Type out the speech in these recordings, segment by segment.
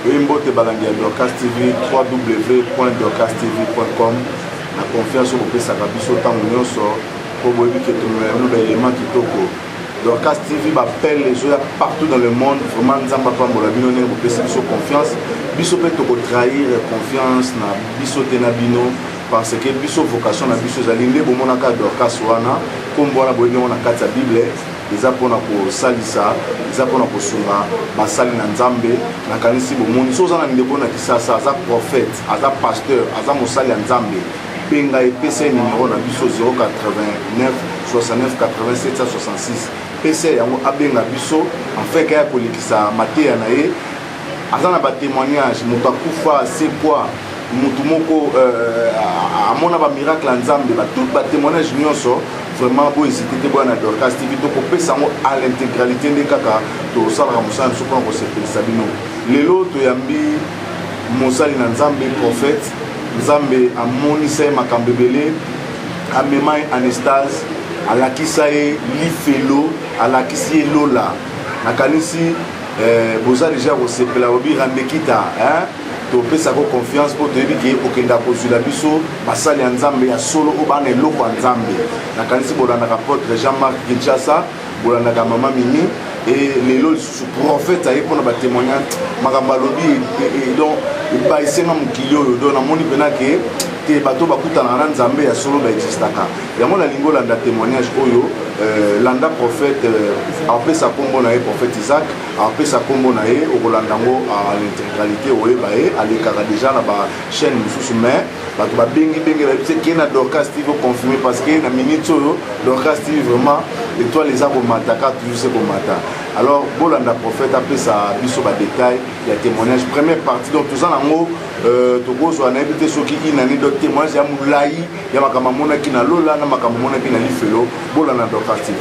Oye mbote balandi ya Dorcas TV www.dorcastv.com na confiance oyo bopesaka biso ntango nyonso mpo boyebi ke tolona yango ba element kitoko Dorcas TV bapele ezoya partout dans le monde vraiment nzambe apambola bino ndenge bopesi biso confiance biso mpe tokotrahir confiance na biso te na bino parce que biso vocation na biso ezali nde bomonaka Dorcas wana nkombo wana boyebi yango na kati ya bible eza mpo na kosalisa eza mpo na kosunga basali na nzambe nakanisi bomoni so oza na ndeko na kisasa aza prophète aza pasteur aza mosali ya nzambe benga epesa ye nimero na biso 089 69 87 66 pesa yango abenga biso afin kaya kolekisa mateya na ye aza na batémoignage moto akufa asekwa motu moko euh, amona bamiracle ya nzambe toute batémoignage nyonso vraiment bohésite te boya na dorcas tv tokopesa yango à l'intégralité nde kaka tosalaka mosala biso mpona kosepelisa bino lelo toyambi mosali na nzambe prophète nzambe amonisa ye makambo ebele amema ye anestase alakisa ye lifelo alakisi ye lola nakanisi Eh, boza deja kosepela obi rambekita hein? topesa ko confiance mpo toyebi ke okenda kozwila biso basali ya nzambe ya solo oyo bana eloko ya nzambe nakanisi bolandaka potre jean marc kinshasa bolandaka mama mimi e lelo lisusu prophète aye mpona batémoignage makambo alobi e, e, e, don ebayisenga mokili oyo don namoni mpena ke te bato bakutanaka na nzambe ya solo baexistaka yango nalingi olanda témoignage oyo euh, landa prophète euh, apesa nkombo na ye prophète isaac apesa nkombo na ye okolanda yango à l'intégralité oyeba ye alekaka déjà na bachaîne mosusu mais bato babengi bengi bayebisi eke na dorcas tv oconfirme parce que na minute oyo dorcas tv vraiment étoile eza komata kaka toujours se komata alors bolanda prophète apesa biso badétail ya témoignage première partie donc toza nango euh, tokozwa nayebi te soki inani donc témoignage ya molai ya makambo amonaki na lola na makambo amonaki na lifelo bolanda dorcas tv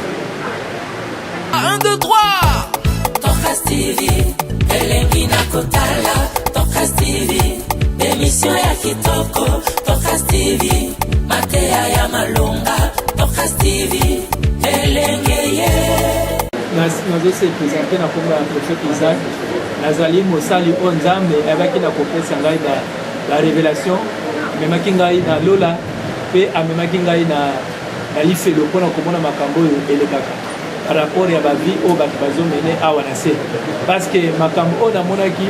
1 2 3 dorcas tv elengi na kotala dorcas tv emisio ya kitoko dorcas tv mateya ya malonga dorcas tv elenge ye nazosepesa mpe na kombo ya profete isaac nazali mosali oyo nzambe ayebaki na kopesa ngai La revelation amemaki ngai na lola mpe amemaki ngai na, na lifelo mpo na komona makambo oyo elekaka par rapport ya bavie oyo bato bazomene awa na se parce que makambo oyo namonaki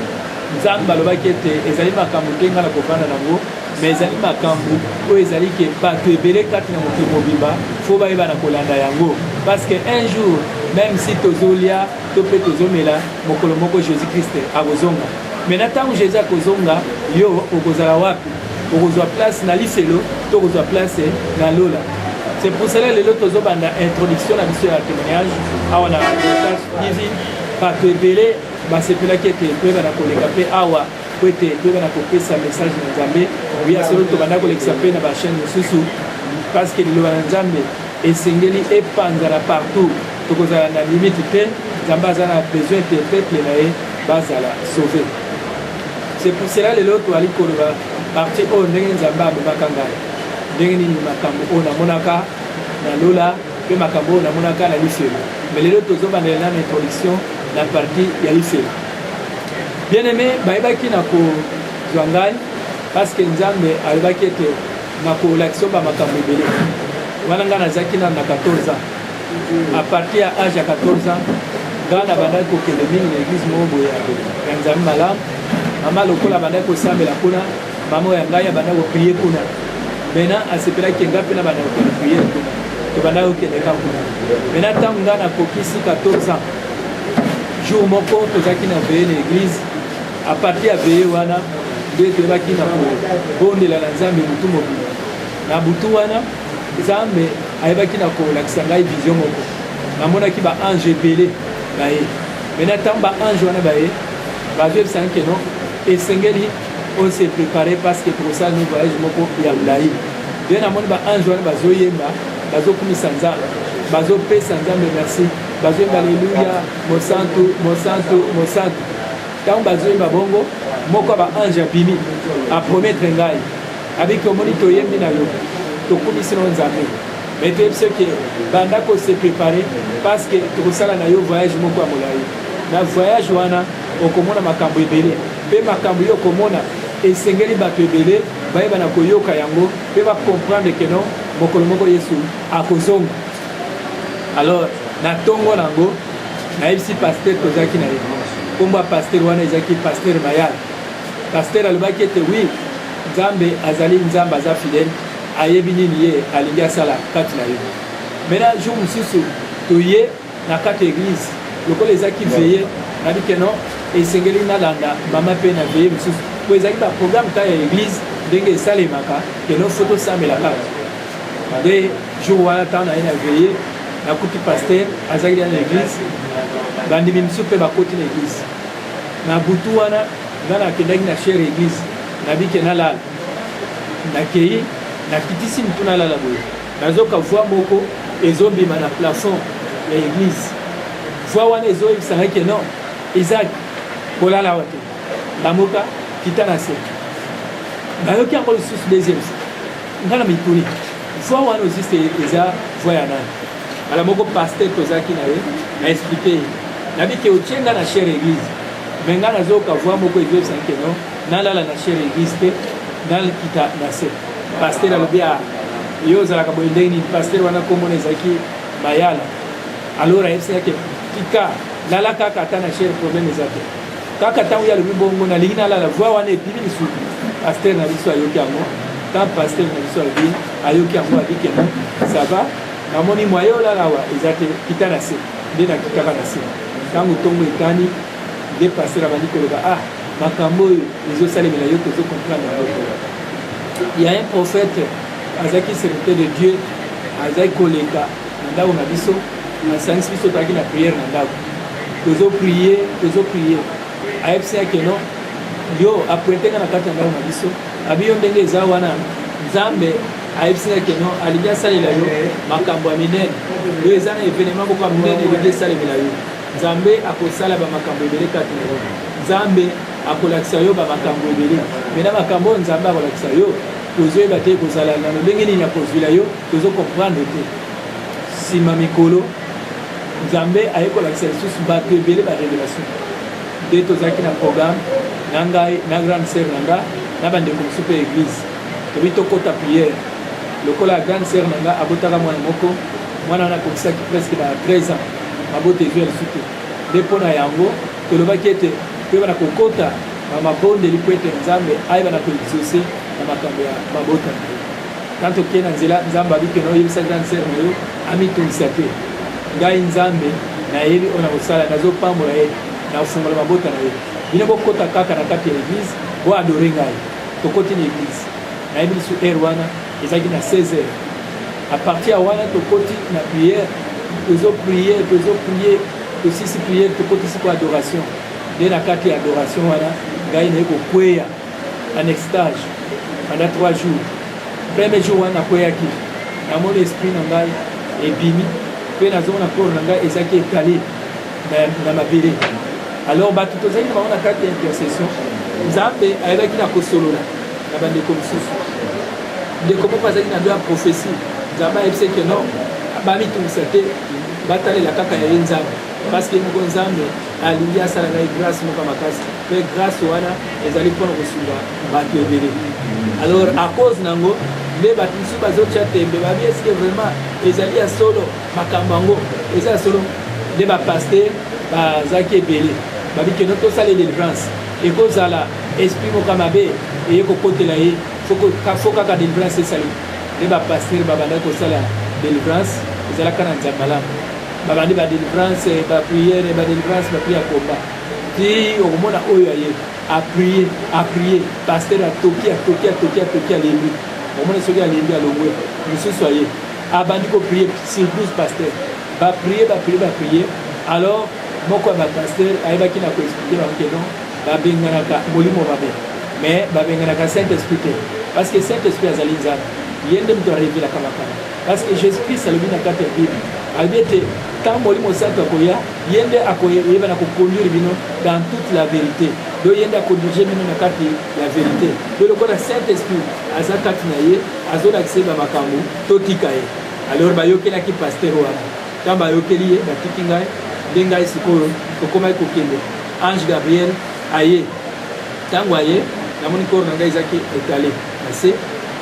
nzambe alobaki ete ezali makambo te ngai nakofanda nango me ezali makambo oyo ezali ke bato ebele kati na mokili mobimba fo bayeba na kolanda yango parce que un jour même si tozolia to mpe tozomela mokolo moko jésus christ akozonga Maintenant ntango Jésus akozonga, yo okozala wapi? Okozwa place na lifelo to okozwa place na lola? C'est pour cela lelo tozobanda introduction na biso ya témoignage awa na TV. Bato ebele basepelaki ete toyebana koleka mpe awa mpo ete toyebana kopesa message na Nzambe. Oya solo tobanda kolekisa mpe na bachaîne mosusu parce que liloba na Nzambe Esengeli epanzana partout tokozala na limite te nzambe aza na besoin te peuple na ye bazala sauve c'est pour cela lelo toali koloba parti oyo ndenge nzambe amemaka ngai ndenge nini makambo oyo namonaka na lola mpe makambo oyo namonaka na lifelo me lelo tozobandela nano introduction na parti ya lifelo bien aime bayebaki na kozwa ngai parce que nzambe alobaki ete nakolakisa yo bamakambo ebele wana ngai nazalaki nano na 14 ans a partir ya age ya 14 ans ngai nabandaki kokende mingi na eglise moko boye ya nzambe malamu mama lokola abandaki kosambela kuna mama ya ngai abandaki koprie kuna mena asepelaki ngai mpe nabandaki kokende priere kuna tobandaki kokende ka kuna mena ntango ngai nakokisi 14 ans jour moko tozalaki na veye na eglise A partir ya veye wana nde toyebaki na kobondela na Nzambe butu mobimba. Na butu wana Nzambe ayebaki na kolakisa ngai vision moko, namonaki ba ange ebele baye mena ntango ba ange wana baye bazoyebisaki keno esengeli on se prépare parce que tokosala no voyage moko ya molai nde namoni ba ange wana bazoyemba bazokumisa nzambe bazopesa nzambe merci bazoyemba aleluya mosantu mosantu mosantu ntango bazoyemba bongo moko ya baange abimi aprometre ngai abiki omoni toyembi na yo tokumisi na yo nzambe me toyebisi yo ke banda kose prepare parce que tokosala na yo voyage moko ya molai na voyage wana okomona makambo ebele mpe makambo yo okomona esengeli bato ebele bayeba na koyoka yango mpe bakomprendre ke non mokolo moko yesu akozonga alors na ntongo na yango nayebisi pastere tozalaki na ye nkombo ya pastere wana ezalaki pastere mayal pastere alobaki ete wi nzambe azali nzambe aza fidele ayebi nini ye alingi asala kati na ye mena jour mosusu toye na kati ya eglise lokola ezalaki veye nabi keno esengeli nalanda mama mpe na veye mosusu mpo ezalaki baprogramme ta ya eglise ndenge esalemaka keno fo tosambela kaka nde jour wana ntango naye na veye nakuti paster azalaki deya na eglise bandimi mosusu mpe bakoti na eglise na butu wana nga nakendaki na chere eglise nabike nalala nakei nakitisi motu nalala boye nazoka voi moko ezobima na plafond ya eglise voi wana ezoyebisa ngai ke non isak kolala wa te lamuka kita na se nayoki yango lisusu deuxième se nga na mituni Voix wana oziste eza voix ya nani? Bala moko pasteur tozalaki na ye na expliquer ye nabi ke otie nga na chere eglise me nga nazoyoka voix moko ezobisaki ke non nalala na chere eglise te nakita na se pasteur alobi a ah, yo ozalaka boye ndenge nini pasteur wana komona ezalaki mayala alors ayebisaki ke tika lala kaka ata na chere problème eza te kaka ntango ye alobi bongo nalingi nalala voi wana ebimi lisusu paster na biso ayoki yango ntango paster na biso alobi ayoki yango abikeno sava namoni mwaye olala awa eza te kita na se nde nakitaka na se ntango ntongo etani nde paster abandi koloba ah makambo oyo ezosalemela yo tozo comprendre yango ya un prophète azalaki serviteur de dieu azalaki koleka na ndako na biso nasangisi biso tozalaki na priere na ndako tozo prie tozo prie ayebisi yake no yo aprete nga na kati ya ndako na biso abi yo ndenge eza wana nzambe ayebisi nga keno alingi asalela yo makambo ya minene yo eza na evenema moko ya minene elingi esalemela yo nzambe akosala bamakambo ebele kati na yo nzambe akolakisa yo bamakambo ebele me na makambo oyo nzambe akolakisa yo tozoyeba te ekozala na lolenge nini akozwila yo tozo comprendre te Sima mikolo, Nzambe aye kolakisa lisusu batu ebele ba revelation. Nde tozalaki na programme na ngai na grande sœur na nga na bandeko mosusu mpe église tobi tokota prière lokola ya grande sœur na nga abotaka mwana moko mwana wana akokisaki presque ba 13 ans mabota ezwi ya lisusu te nde mpo na yango tolobaki ete toyeba na kokota na mabondeli mpo ete nzambe ayeba na koexauce na makambo ya mabota na ye Ntango tokei na nzela, Nzambe alobi kende oyebisa grande sœur na yo amitungisa te. Ngai Nzambe nayebi oyo nakosala, nazopambola ye, nakofungola mabota na ye. Bino bokota kaka na kati ya eglise, boadore ngai. Tokoti na eglise, nayebi lisu heure wana ezalaki na 16 heures. A partir ya wana tokoti na prière, tozo prier, tozo prier, tosisi prière, tokotisi ko adoration. Nde na kati ya adoration wana ngai naye kokweya en extage pendant 3 jours premier jour wana nakweyaki namoni esprit na ngai ebimi mpe nazomona corps na ngai ezalaki etale na mabele alors bato tozalaki na bango na kati ya intercession nzambe ayebaki na kosolola na bandeko mosusu ndeko moko azalaki na bia prophesie nzambe ayebisi eke non bamitungisa te batalela kaka ya ye nzambe parce que moko nzambe alingi asala ngai grace moko makasi mpe grace wana ezali mpona kosunga bato ebele alors à cause na yango nde bato mosusu bazotya tembe babi eske vraiment ezali ya solo makambo yango eza ya solo nde bapaster bazalaki ebele babikeno tosala delivrance ekozala esprit moka mabe eye kokotela ye fo kaka delivrance esali nde bapaster babandaki kosala delivrance ezalaka na nzambalamu babandi ba delivrance ba priere ba delivrance ba priere akomba ti okomona oyo aye aprie aprie paster atoki atoki atoki atoki alembi okomona soki alembi alongwe mosusu aye abandi koprie surprise paster baprie baprie baprie alors moko ya bapaster ayebaki na koexplike bango ke non babenganaka molimo mabe mais babenganaka saint esprit te parce que saint esprit azali nzambe ye nde moto arevelaka makambo Parce que Jesus Christ alobi na kati ya Bible, alobi ete ntango Molimo Mosantu akoya, ye nde akoyeba na kokonduire bino dans toute la verite. Do ye nde akondirige bino na kati ya verite. Do lokola Saint Esprit aza kati na ye, azolakisa ye bamakambo, totika ye. Alors bayokelaki pasteur wana, ntango bayokeli ye, batiki ngai nde ngai sikoyo tokomaki kokende. Ange Gabriel aye, ntango aye namoni koro na ngai ezaki etale na se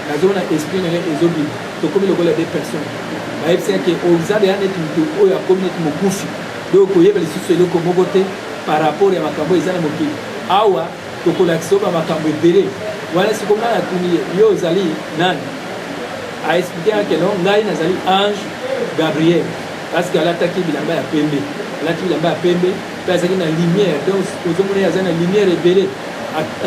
nazomona esprit na ye ezobima tokomi lokola de personne bayebisi yake oza deya neti moto oyo akomi neti mokufi donc koyeba lisusu eloko moko te par rapport ya makambo eza na mokili awa tokolakisa oyo bamakambo ebele wana siko ngai natuni ye yo ozali nani aexplike yake no ngai nazali ange gabriel parceke alataki bilamba ya pembe alati bilamba ya pembe mpe azalaki na lumière donc ozomona ye aza na lumière ebele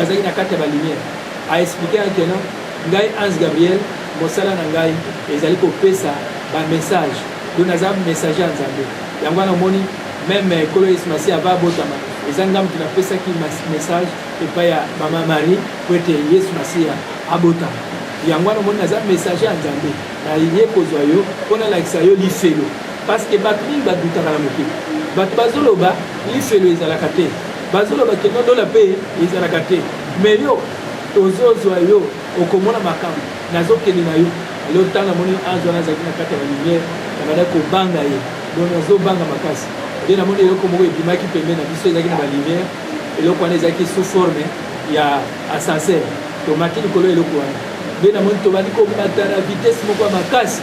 azalaki na kati ya balumière A expliquer que non, ngai Hans Gabriel mosala na ngai ezali kopesa ba message donc naza messager ya Nzambe yango wana omoni meme kolo Yesu Masiya ava abotama eza ngai moto napesaki message epai ya mama Marie po ete Yesu Masiya abotama yango wana omoni naza messager ya Nzambe naye kozwa yo mpo nalakisa yo lifelo Parce que batu mingi badutaka na mokili. Batu bazoloba lifelo ezalaka te. Bazoloba ke no dola pe ezalaka te. Mais yo ozozwa yo okomona makambo nazokende na yo lelo ntango amoni azo wana azalaki na kati ya balumiere abanda kobanga ye donc nazobanga makasi nde namoni eloko moko ebimaki pembe na biso ezalaki na balumiere eloko wana ezalaki sous forme ya ascenseur tomati likolo ya eloko wana nde namoni tobandi kobata na vitesse moko ya makasi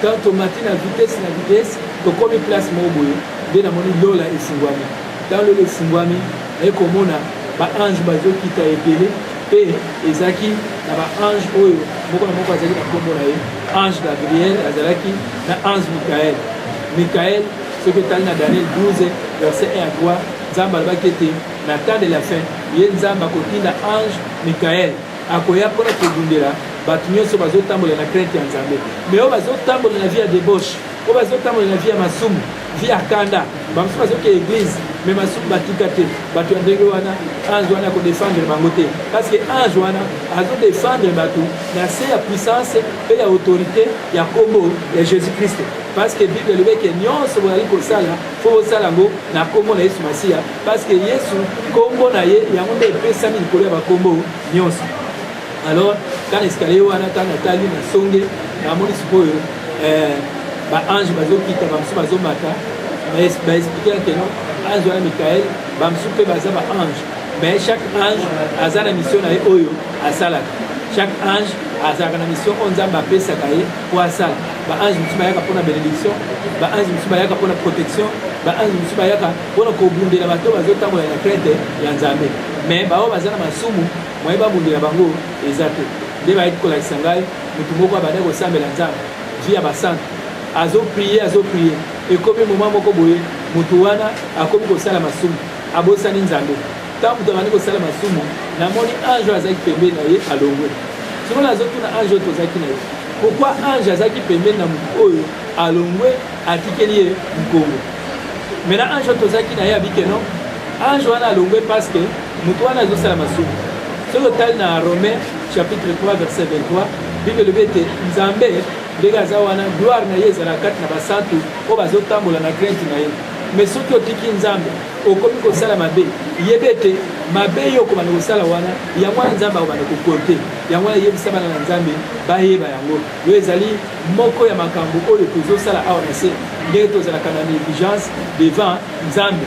Quand tomati na vitesse na vitesse, tokomi place moko boye, nde namoni lola esingwami. Ntango lola esingwami, naye komona ba ange bazokita ebele, mpe ezalaki na ba ange oyo moko na moko azalaki na nkombo na ye. Ange Gabriel azalaki na ange Mikael. Mikael, soki etali na Daniel 12 verset 1 à 3, Nzambe alobaki ete na temps de la fin, ye Nzambe akotinda ange Mikael akoya mpona kobundela bato nyonso bazotambola na krente ya nzambe me oyo bazotambola na vie ya debauche oyo bazotambola na vie ya masumu vie ya kanda bamosusu bazoke eglise me masumu batika te bato ya ndenge wana ange wana akodefendre bango te parce que ange wana azodefendre bato na se ya puissance mpe ya autorité ya nkombo ya jésus christ parce que bible elobeke nyonso boyali kosala fo bosala yango na nkombo na yesu masiya parceke yesu nkombo na ye yango nde epesami likolo ya bankombo nyonso alors tana escalier wana ntango natali na songe namoni sikoyo eh, baange bazokita bamosusu bazomata baexplike ke non ange wana mikael bamosusu mpe baza baange mais chaque ange aza na mission na ye oyo asalaka chaque ange azalaka na mission oyo nzambe apesaka ye Kwasa, ba ange mosusu bayaka mpo na benediction, ba ange mosusu bayaka mpo na protection, ba ange mosusu bayaka mpo na kobundela bato oyo bazotambola na krete ya Nzambe. Mais baoyo baza na masumu moye babundela bango eza te. Nde bayaki kolakisa ngai motu moko abanda kosambela Nzambe vie ya basantu, azoprie azoprie, ekomi moma moko boye motu wana akomi kosala masumu, abosani Nzambe. Ntango moto abandi kosala masumu, namoni ange oyo azalaki pembeni na ye alongwe. Soko nazotuna ange oyo tozalaki na ye, pourkoi ange azalaki pembeni na moto oyo alongwe atikeli ye nkongo? Mena ange oyo tozalaki na ye abike no, ange wana alongwe parce que moto wana azosala masumu. Soki otali na Romain chapitre 3 verset 23, Bible elobi ete Nzambe ndenge aza wana, gloire na ye ezalaka kati na basantu oyo bazotambola na crainte na ye. Mais soki otiki Nzambe okomi kosala mabe yeba ete mabe yo okobanda kosala wana yango wana nzambe akobanda kokote yango wana eyebisa bana na nzambe bayeba yango yo ezali moko ya makambo oyo tozosala awa na se ndenge tozalaka na negligence devant nzambe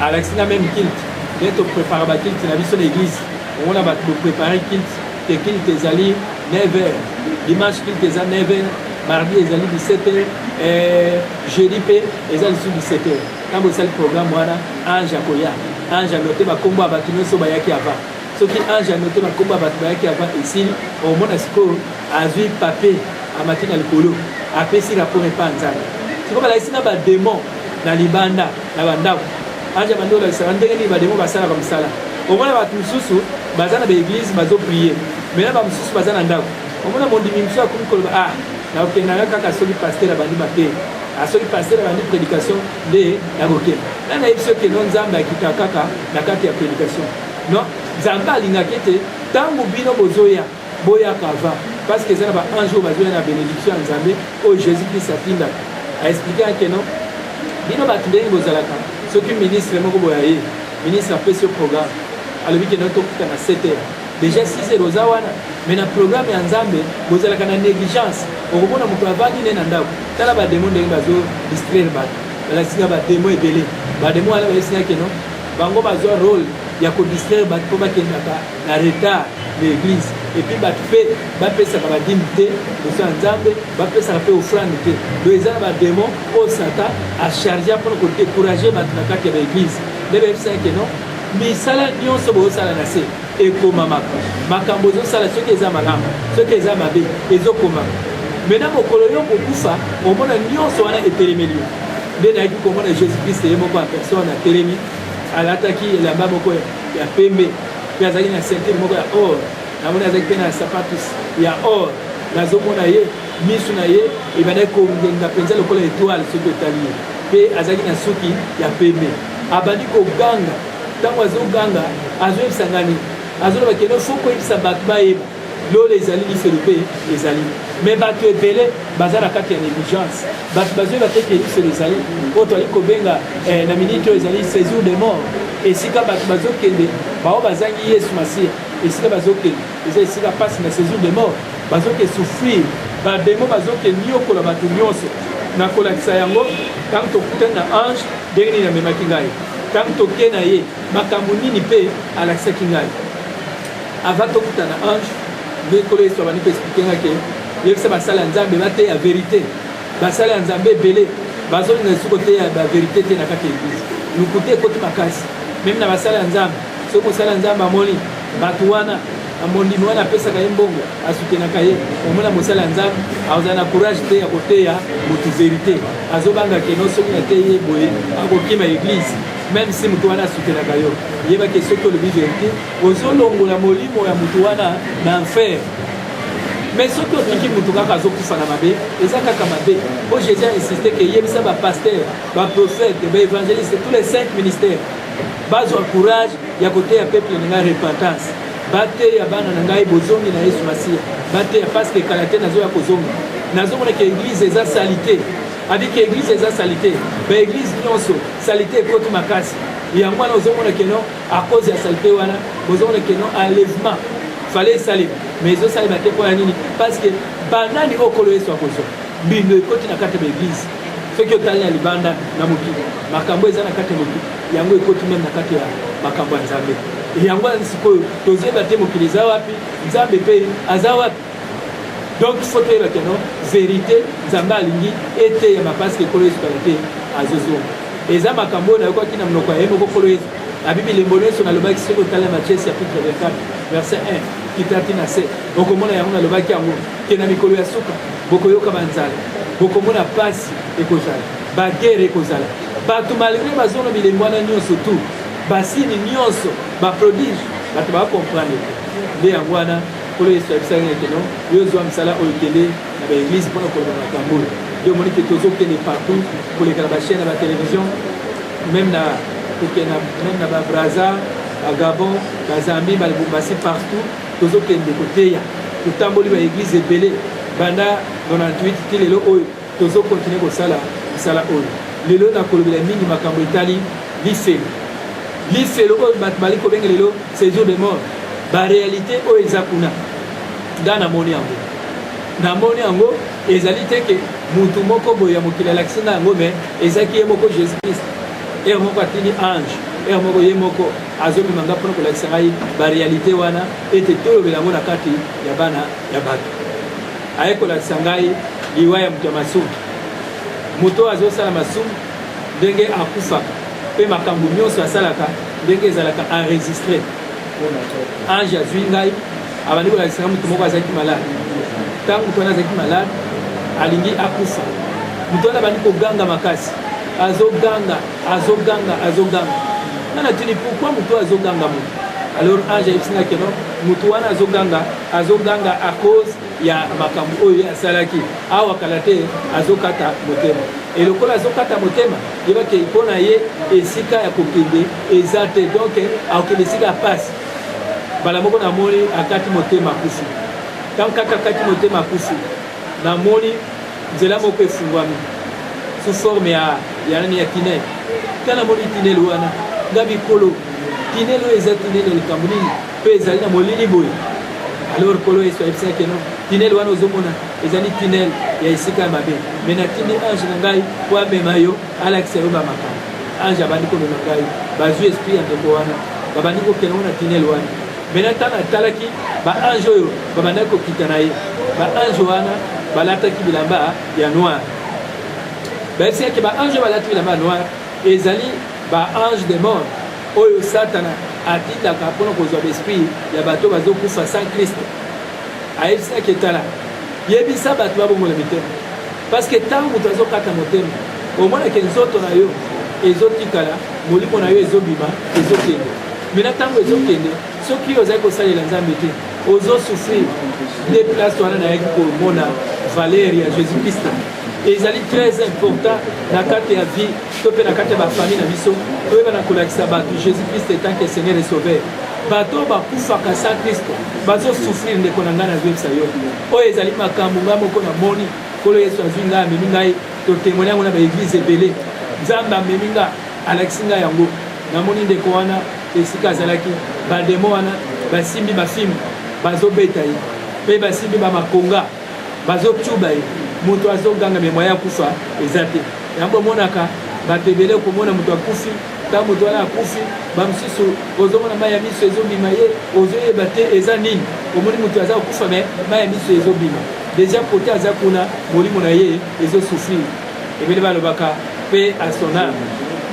alakisi nga meme kilte ndenge toprepare bakilte na biso na eglise omona bato boprepare kilte te kilte ezali 9 heure dimanche kilte eza 9 heure mardi ezali 17 heure eh, jeudi mpe eza lisusu 17 heure Tango esali programme wana ange akoya ange anote bakombo ya bato nyonso bayaki ava soki ange anote bakombo ya bato bayaki ava esili omona sikoyo azwi papier amati na likolo apesi rapport epa nzambe sikoyo balakisi na bademon na libanda na bandako ange abandi kolakisaka ndenge nini bademon basalaka mosala omona bato mosusu baza na baeglise bazoprie mena bamosusu baza na ndako omona mondimi mosusu akomi koloba ah nakokendaka kaka soki paster abandi mabe Ah, soki pasteur abandi prédication nde nakokende nani ayebi soki eno nzambe akita kaka na kati ya prédication non nzambe alingaki ete ntango bino bozoya boyaka ava parce que eza na baange oyo bazoya na bénédiction ya nzambe oyo jésus christ atindaka aexplike yake non bino bato ndenge bozalaka soki ministre moko boya ye ministre apesi yo programme alobi keno tokuta na 7 heures déjà 6 heures oza wana mais na programme ya nzambe bozalaka na négligence okomona moto avandi nde na ndako tala ba demon ndenge bazo distraire bato balakisi nga ba demon ebele ba demon wana bayebisi nga keno bango bazwa role ya kodistraire bato mpo bakendaka na retard na église epuis bato mpe bapesaka badimi te liboso ya nzambe bapesaka mpe ofrande te do eza na bademo oyo satan achargea mpona kodécourage bato na kati ya baeglise nde bayebisaki keno misala nyonso bozosala na se ekomamaka makambo ezosala soki eza malamu soki eza mabe ezokomama me na mokolo yo kokufa omona nyonso wana etelemeli yo nde nayaki komona jésus krist ye moko ya personne atelemi alataki elamba moko ya pembe mpe azalaki na ceinture moko ya or namoni azalaki mpe na sapatus ya or nazomona ye misu na ye ebandaki kongenga mpenza lokola etoile soki otali ye mpe azalaki na suki ya pembe abandi koganga Tango azo ganga azo yebisa nga nini? Azo loba que non faut ko yebisa bato ba yeba. Lola ezali lifelo pe ezali. Mais bato ebele baza na kati ya negligence. Bato bazo yeba te que lifelo ezali. Oyo toali ko benga eh, na minute oyo ezali sejour de mort. Esika bato bazo kende bao bazangi Yesu Masiya. Esika bazo kende eza esika pasi na sejour de mort. Bazo ke souffrir. Ba demons bazo ke niokola bato nionso. Na kolakisa yango tango tokutani na ange Ndenge nini amemaki ngai ntango toke na ye? Makambo nini mpe alakisaki ngai avant tokuta na ange? Nde nkolo Yesu abandi koexplike ngai ke yebisa basali ya Nzambe bateya verite. Basali ya Nzambe ebele bazolinga lisusu koteya baverite te na kati ya eglise. Lokuta ekoti makasi meme na basali ya Nzambe. Soki mosali ya Nzambe amoni bato wana na mondimi wana apesaka ye mbongo asutenaka ye omona mosali ya nzambe azala na courage te ya koteya motu verité azobanga keno soki nateyi ye boye akokima eglise meme si motu wana asutenaka yo yebaki soki olobi verité ozolongola molimo ya motu wana na enfer mais soki otiki motu kaka azokufa na mabe eza kaka mabe mpo jésus insiste ke yebisa bapaster baprofete baevangeliste tous les cinq ministères bazwa courage ya koteya peuple na ngai repentance bateya bana na ngai bozongi na yesu masiya bateya paske kala te nazoya kozonga nazomona ke eglise eza salite abi ke eglise eza salite baeglise nyonso salite ekoti makasi yango wana ozomona keno a cause ya salite wana bozomona keno enlèvement fale esalema mais ezosalema te mpo ya nini parce que banani okolo yesu akozwa mbindo ekoti na kati ya baeglise soki otali na libanda na mokili makambo eza na kati ya mokili yango ekoti meme na kati ya makambo ya nzambe yango wana sikoyo tozeba te mokili eza wapi nzambe mpe aza wapi donc fo toyeba keno verité nzambe alingi eteyama parceke ekolo yesu kala te azozonga eza makambo oyo nayokaki na monoko ya ye moko kolo yesu abibi lembo nyonso nalobaki soki otala matiese ya pitre 24 verset 1 kitati na se okomona yango nalobaki yango ke na mikolo ya suka bokoyoka banzala bokomona mpasi ekozala Ba guerre ekozala. Bato malgré bazona bilembo wana nyonso tout, basini nyonso, ba prodige, bato ba comprendre. Nde yango wana Nkolo Yesu ayebisaki ete no, yo zwa mosala oyo kende na ba église mpo na koloba makambo oyo. Nde omoni ke tozokende partout koleka na ba chaîne na ba télévision même na kokende même na ba Brazza, ba Gabon, ba Zambie, ba Lubumbashi partout tozokende koteya. Totamboli ba église ebele banda 98 ti lelo oyo. Tozo continuer kosala misala oyo. Lelo nakolobela mingi makambo etali lifelo. Lifelo oyo bato bali kobenga lelo séjour de mort. Ba realite oyo eza kuna. Nga namoni yango. Namoni yango ezali te ke mutu moko boye ya mokili alakisi nga yango me ezaki ye moko Jésus Christ. Heure moko atindi ange, heure moko ye moko azomema nga mpona kolakisa ngai ba realite wana ete tolobela yango na kati ya bana ya bato. aye kolakisa ngai liwa ya moto ya masumu moto oyo azosala masumu ndenge akufaka mpe makambo nyonso asalaka ndenge ezalaka enregistre ange azwi ngai abandi kolakisa ngai moto moko azalaki malade ntango moto wana azalaki malade alingi akufa moto wana abandi koganga makasi azoganga azoganga azoganga nga natuni pourkui moto azoganga moto alors ange ayebisi ngai keno moto wana azoganga azoganga à cause ya makambo oyo ye asalaki awa kala te azokata motema e lokola azokata motema yebake mpo na ye esika ya kokende eza te donk akokende esika ya pasi mbala moko namoni akati motema akusi ntango kaka akati motema akusi namoni nzela moko efungwami sous forme ya ya nani ya tinel ntango namoni tinel wana nga bikolo tinel oyo eza tinel ya likambo nini Mpe ezali na molili boye. Alors Nkolo Yesu ayebisaki keno, tinele wana ozomona ezali tinele ya esika ya mabe. Me natindi ange na ngai mpo amema yo, alakisa yo bamakambo. Ange abandi komema ngai, bazwi esprit ya ndeko wana, babandi kokende na tinele wana. Me na ntango atalaki baange oyo babandaki kokita na ye, baange wana balataki bilamba ya noir. Bayebisaki baange oyo balati bilamba ya noir ezali Ba anges de mort oyo Satana atindaka mpo na kozwa baesprit ya bato bazokufa sans Kristo, ayebisaki etala, yebisa bato babongola mitema, parce que ntango moto azokata motema, omonake nzoto na yo ezotikala, molimo na yo ezobima, ezokende. Mena ntango ezokende, soki ozali kosalela Nzambe te, ozosufrir nde place wana nayaki komona valeur ya Jésus Christ ezali très important na kati ya vie to mpe na kati ya bafamille na biso toyebana kolakisa bato jésus christ etanke seigneur et sauveur bato oyo bakufaka sa kristo bazosufrir ndeko na ngai nazoyebisa yo oyo ezali makambo ngai moko namoni nkolo yesu azwi ngai amemi ngai totemone yango na baeglize ebele nzambe amemi ngai alakisi ngai yango namoni ndeko wana esika azalaki bademo wana basimbi bafimbi bazobeta ye mpe basimbi bamakonga bazo tuba ye moto azo ganga me moyen akufa eza te yango omonaka bato ebele komona moto akufi ntango moto wana akufi bamosusu ozomona mai ya miso ezobima ye ozoyeba te eza nini omoni moto aza kokufa me mai ya miso ezobima deja kote aza kuna molimo na ye ezosufrir ebele balobaka pe a son ame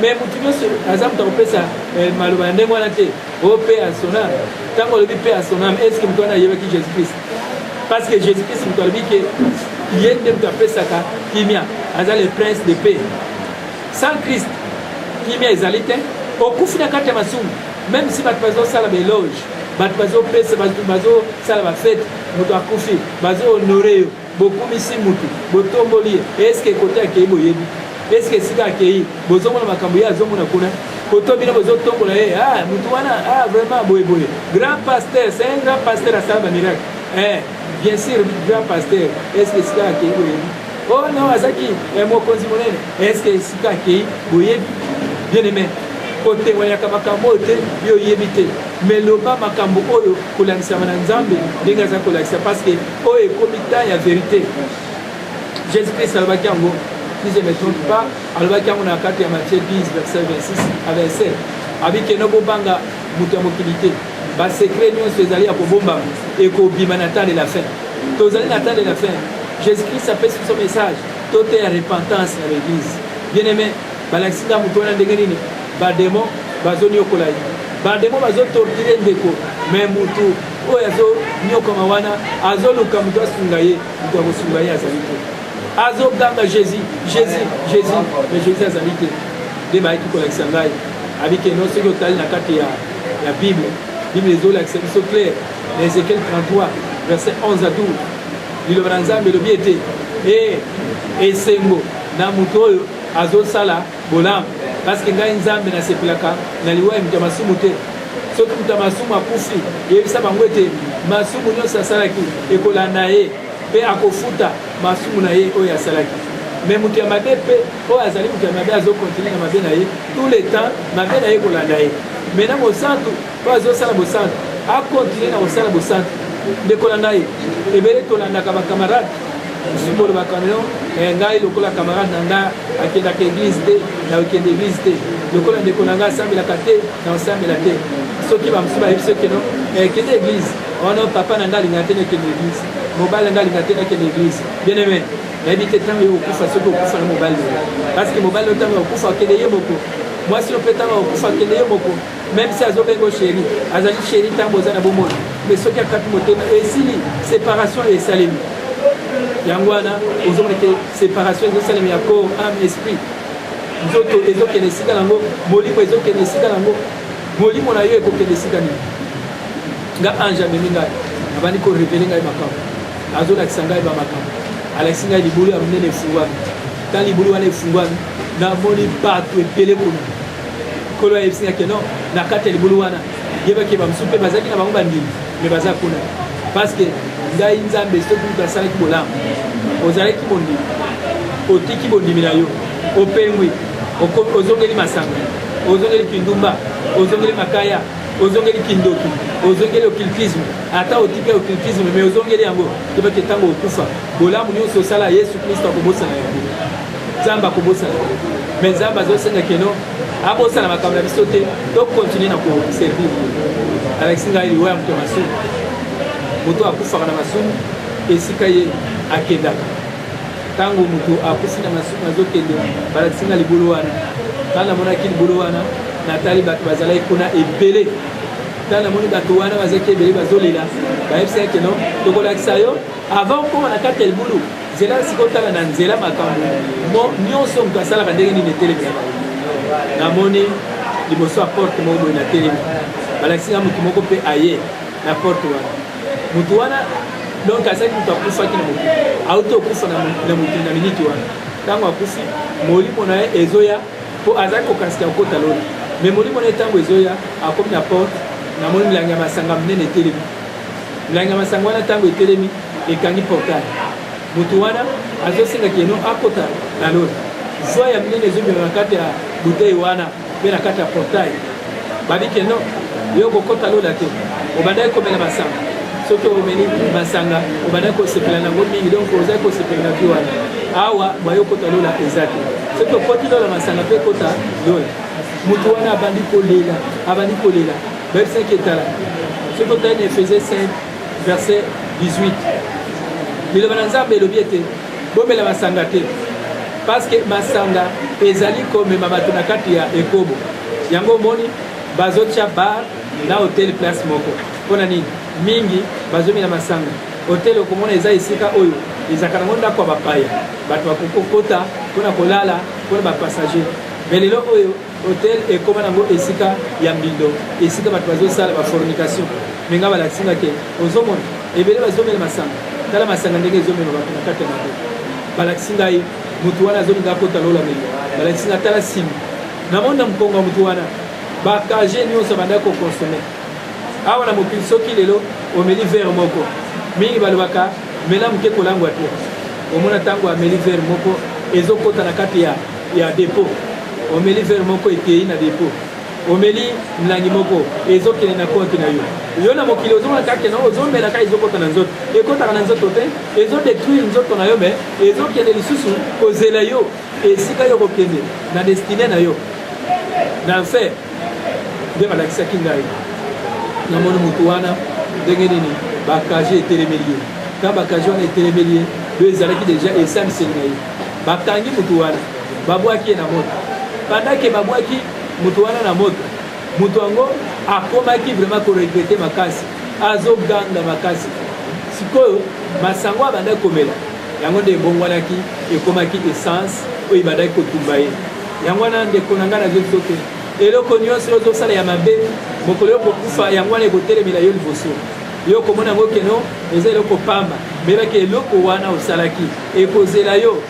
me motu nyonso aza moto akopesa eh, maloba ya ndenge wana te o pe a son ame ntango olobi pe a son ame eske moto wana ayebaki jésus christ parce que jésus christ moto alobi ke ye nde moto apesaka kimia aza le prince de paix sans christ kimia ezali te okufi na kati ya masumu même si bato bazosala baeloge bato bazopesa bato bazosala bafete moto akufi bazohonore yo bokumisi motu botomboli ye eske kote akei boyebi eske esika akei bozomona makambo ye azomona kuna koto bino bozotombola ye ah, mutu wana ah, vraiment boye boye grand pasteur c'est un grand pasteur asala bamiracle eh, bien sûr grand pasteur est ce que sika akei boyebi o oh, no azaki eh, mokonzi monene est ce que sika akei boyebi bien aimé kotewayaka makambo oyo te yo oyebi te mais loba makambo oyo kolakisama na nzambe ndenge aza kolakisa parce que oyo ekomi temps ya verité jésus christ alobaki yango si je ne trompe pas alobaki yango na kati ya matie 10 verset 26 a 27 abi keno bobanga moto ya mokili te basekre nyonso ezali ya kobombama ekobima na temps de la fin tozali na temps de la fin jésus christ apesi biso message toteya repentance na l'église bien aimé balakisi nga moto wana ndenge nini bademo bazoniokola ye bademo bazotortire ndeko me motu oyo azonyokama wana azoluka moto asunga ye moto akosunga ye azali te azoganga jésus jésus jésus mais jésus azali te nde bayaki kolakisa ngai abike no soki otali na kati ya, ya bible bible ezolakisa biso claire na ezekiel 33 verset 11 à 12 liloba na nzambe elobi ete e esengo na moto oyo azosala bolamu parceke ngai nzambe nasepelaka na liwa ya moto ya masumu te soki moto ya masumu akufi yebisa bango ete masumu nyonso asalaki ekolanda ye Mpe akofuta masumu na ye oyo asalaki. Mais moto ya mabe mpe oyo azali moto ya mabe azokontinue na mabe na ye tout le temps, mabe na ye kolanda ye. Mais na mosantu oyo azosala bosantu akontinue na kosala bosantu. Ndeko na ngai, ebele tolandaka bakamarade mosusu bolobaka no eh, ngai lokola kamarade na ngai akendaka eglize te na okende eglize te lokola ndeko na ngai asambelaka te na osambela te soki bamosusu bayebi soki no eh, kende eglize wana papa na ngai alingaka te nakende eglise mobali na ngai alingaka te nakende eglise bien aimé nayebi te ntango yo okufa soki okufa na mobali na yo parce que mobali yo ntango okufa akende ye moko mwasi yo mpe ntango okufa akende ye moko même si azobengo sheri azali sheri ntango oza na bomoi mais soki akapi motema esili séparation esalemi yango wana ozomona ke séparation ezosalema ya corps ame esprit nzoto ezokende esika nango molimo ezokende esika nango molimo na yo ekokende esika nini nga ange amemi ngai abandi korevele ngai makambo azolakisa ngai bamakambo alakisi ngai libulu ya monene efungwami ta libulu wana efungwami namoni bato ebele kuna kolo ayebisi ngai keno na kati ya libulu wana yebaki bamosusu mpe bazalaki na bango bandimi me baza kuna parce que ngai nzambe soki moto asalaki bolamu ozalaki bondimi otiki bondimi na yo opengwi ozongeli masanga ozongeli kindumba ozongeli makaya ozongeli kindoki ozongeli occultisme ata otiki occultisme mais ozongeli yango yebaki ntango okufa bolamu nyonso osala yesu kristo akobosana yango nzambe akobosana yango mais nzambe azosenga keno abosana makambo na biso te tokontinue na koservir alakisi ngai liwa ya moto ya masumu moto akufaka na masumu esika ye akendaka Tango moto akufi na masumu azokende balakisi nga libolo wana ntango namonaki libolo wana natali bato bazalaki kuna ebele ntango namoni bato wana bazalaki ebele bazolela bayebisaki keno tokolakisa yo avant okoma na kati ya libulu nzela sikotala na nzela makambo mo nyonso moto asalaka ndenge nini etelemela namoni liboso ya porte moko boye na telemi balakisi nga moto moko mpe aye na porte wana moto wana donc azalaki moto akufaki na mokili auti okufa na mokili na miniti wana ntango akufi molimo na ye ezoya mpo azalaki kokanisika kokota lola me molimo na ye ntango ezoya akomi na porte namoni milangi ya masanga minene etelemi milangi ya masanga wana ntango etelemi ekangi portale moto wana azosenga keno akota na lola zwa ya minene ezobima na kati ya butei wana mpe na kati ya portail babi ke non yo okokota lola te obandaki komela masanga soki omeli masanga obandaki kosepela nango mingi donc ozali kosepela na bi wana awa bayo okota lola eza te soki okoti lola masanga mpe ekota lola moto wana abandi kolela abandi kolela bayebisaki etala soki otali na efese 5 verset 18 liloba na nzambe elobi ete Bomela masanga te paske masanga ezali komema bato na kati ya ekobo. Yango omoni bazotya bar na hotel place moko. Mpo na nini? Mingi bazomela masanga. Hotel okomona eza esika oyo ezalaka nango ndako ya bapaya, bato bakokokota mpo na kolala mpo na bapassager. Me lelo oyo Hotel ekoma nango esika ya mbindo, esika bato bazosala ba fornication. Mais nga balakisi nga ke ozomona ebele bazomela masanga, tala masanga ndenge ezomema bato na kati ya mabe. Balakisi ngai moto wana azolinga akota lola meli, balakisi nga tala simi na moni na mokongo ya moto wana bakage nyonso abandaki kokonsome awa na mokili. Soki lelo omeli vere moko mingi balobaka mela moke kolangwa te omona ntango ameli vere moko ezokota na kati ya, ya depo omeli vere moko eteyi na depo omeli mlangi moko ezokende na konte na yo yo na mokili ozomona kake na ozomela kaka ezokota na nzoto ekotaka na nzoto te ezodetruire nzoto na yo me ezokende lisusu kozela yo esika yo kokende na destine na yo na enfer nde balakisaki ngai namoni motu wana ndenge nini bakaje etelemeli ye ka bakaje wana etelemeli ye oyo ezalaki deja esangiseli na ye bakangi motu wana babwaki ye na moto pandake babwaki motu wana na moto motu yango akomaki vraiment koregrete makasi azoganga makasi sikoyo masango abandaki komela yango nde ebongwanaki ekomaki essence oyo ebandaki kotumba ye yango wana ndeko na ngai nazoki soki eloko nyonso ozosala ya mabe mokolo yo kokufa yango wana ekotelemela yo liboso yo okomona yango keno eza eloko pamba mbelaki eloko wana osalaki ekozela yo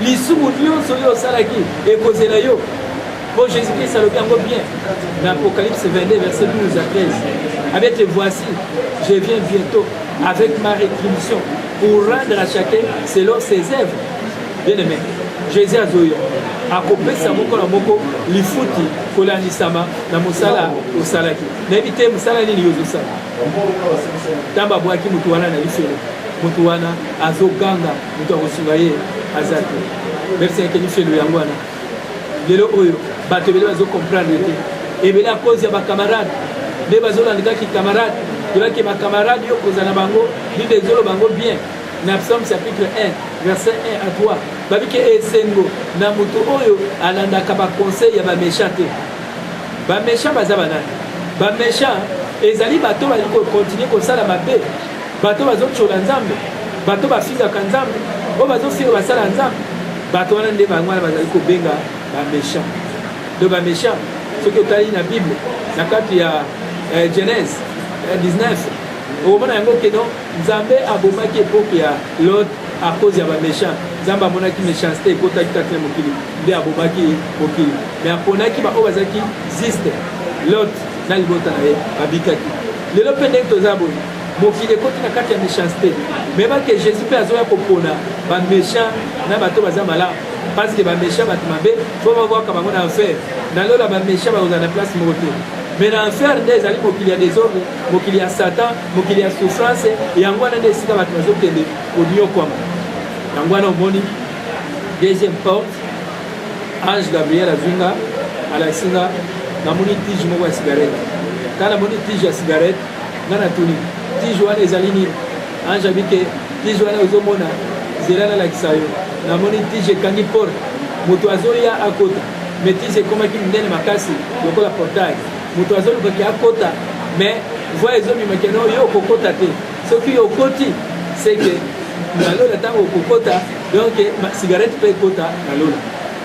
lisumu nyonso oyo osalaki ekozela yo Bon, Jésus-Christ alobi yango bien na Apocalypse 22 verset 12 à 13 avec les voici je viens bientôt avec ma rétribution pour rendre à chacun selon ses œuvres bien aimé Jésus azoya akopesa moko na moko lifuti kolandisama na mosala osalaki nayebi te mosala nini yo ozosala ntango abwaki motu wana na lifelo motu wana azoganga motu akosunga ye aza te merci yake lifelo yango wana lelo oyo bato ebele bazo comprendre te ebele a cause ya bacamarade nde bazolandikaki camarade yebaki bacamarade yo kozala na bango bible ezoloba bango bien na psaume chapitre 1 verset 1 à 3 babiki esengo na moto oyo alandaka baconseil ya baméchant te baméchant baza banani baméchant ezali bato bali kokontinue kosala mabe bato bazotyola nzambe bato bafingaka nzambe oyo bazofinga basala ya nzambe bato wana nde bango wana bazali kobenga baméchant do baméchant soki otali na bible na kati ya eh, genèse 19 eh, okomona yango keno nzambe abomaki epoke ya lot a cause ya baméchant nzambe amonaki méchanceté ekotaki kati na mokili nde abomaki mokili me aponaki baoyo bazalaki ziste lot na libota na ye babikaki lelo mpe ndenge toza boye mokili ekoti na kati ya méchanceté meba ke jésus mpe azoya kopona baméchant na bato baza malamu parce que baméchant bato mabe fo babwaka bango na enfer na lola baméchant bakozala na place moko te mais na enfer nde ezali mokili ya desordre mokili ya satan mokili ya souffrance yango wana nde esika bato bazokende koniokwama yango wana omoni deuxième porte ange gabriel azwi nga alakisi nga namoni tige moko ya cigarette ntango namoni tige ya cigarette nga na tuni tiju wana ezali nini ange abi ke tiju wana ozomona zela nalakisa yo namoni tiju ekangi porte moto azoya akota mais tiju ekomaki monene makasi lokola portail moto azolukaki akota mais voi ezobima keno yo okokota te soki yo okoti seke na lola ntango okokota donc cigarette mpe ekota na lola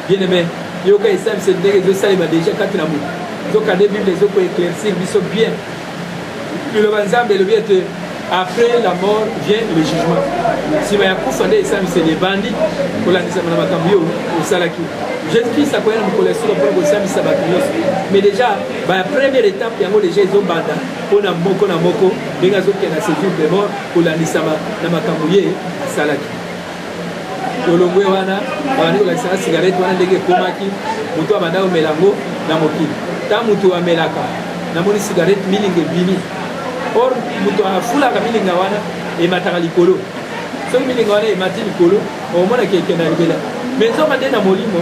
bien aime yoka esalisa ndenge ezosalema deja kati na moto nzokande bible ezokoeclaircir biso bien Liloba Nzambe elobi ete après la mort vient le jugement. Sima ya kufa nde esambiseli ebandi kolandisama na makambo yo osalaki. Jésus-Christ akoya na mokolo ya solo mpo na kosambisa bato nyonso. Mais déjà ba première étape yango déjà ezobanda mpo na moko na moko ndenge azokenda séjour de mort kolandisama na makambo ye asalaki. tolongwe wana babandi kolakisaka sigarete wana ndenge ekomaki motu abanda komela yango na mokili ta motu amelaka namoni sigarete milinga ebimi or motu afulaka milinga wana emataka likolo soki milinga wana emati likolo okomonaka ekenda libela me nzoka nde na molimo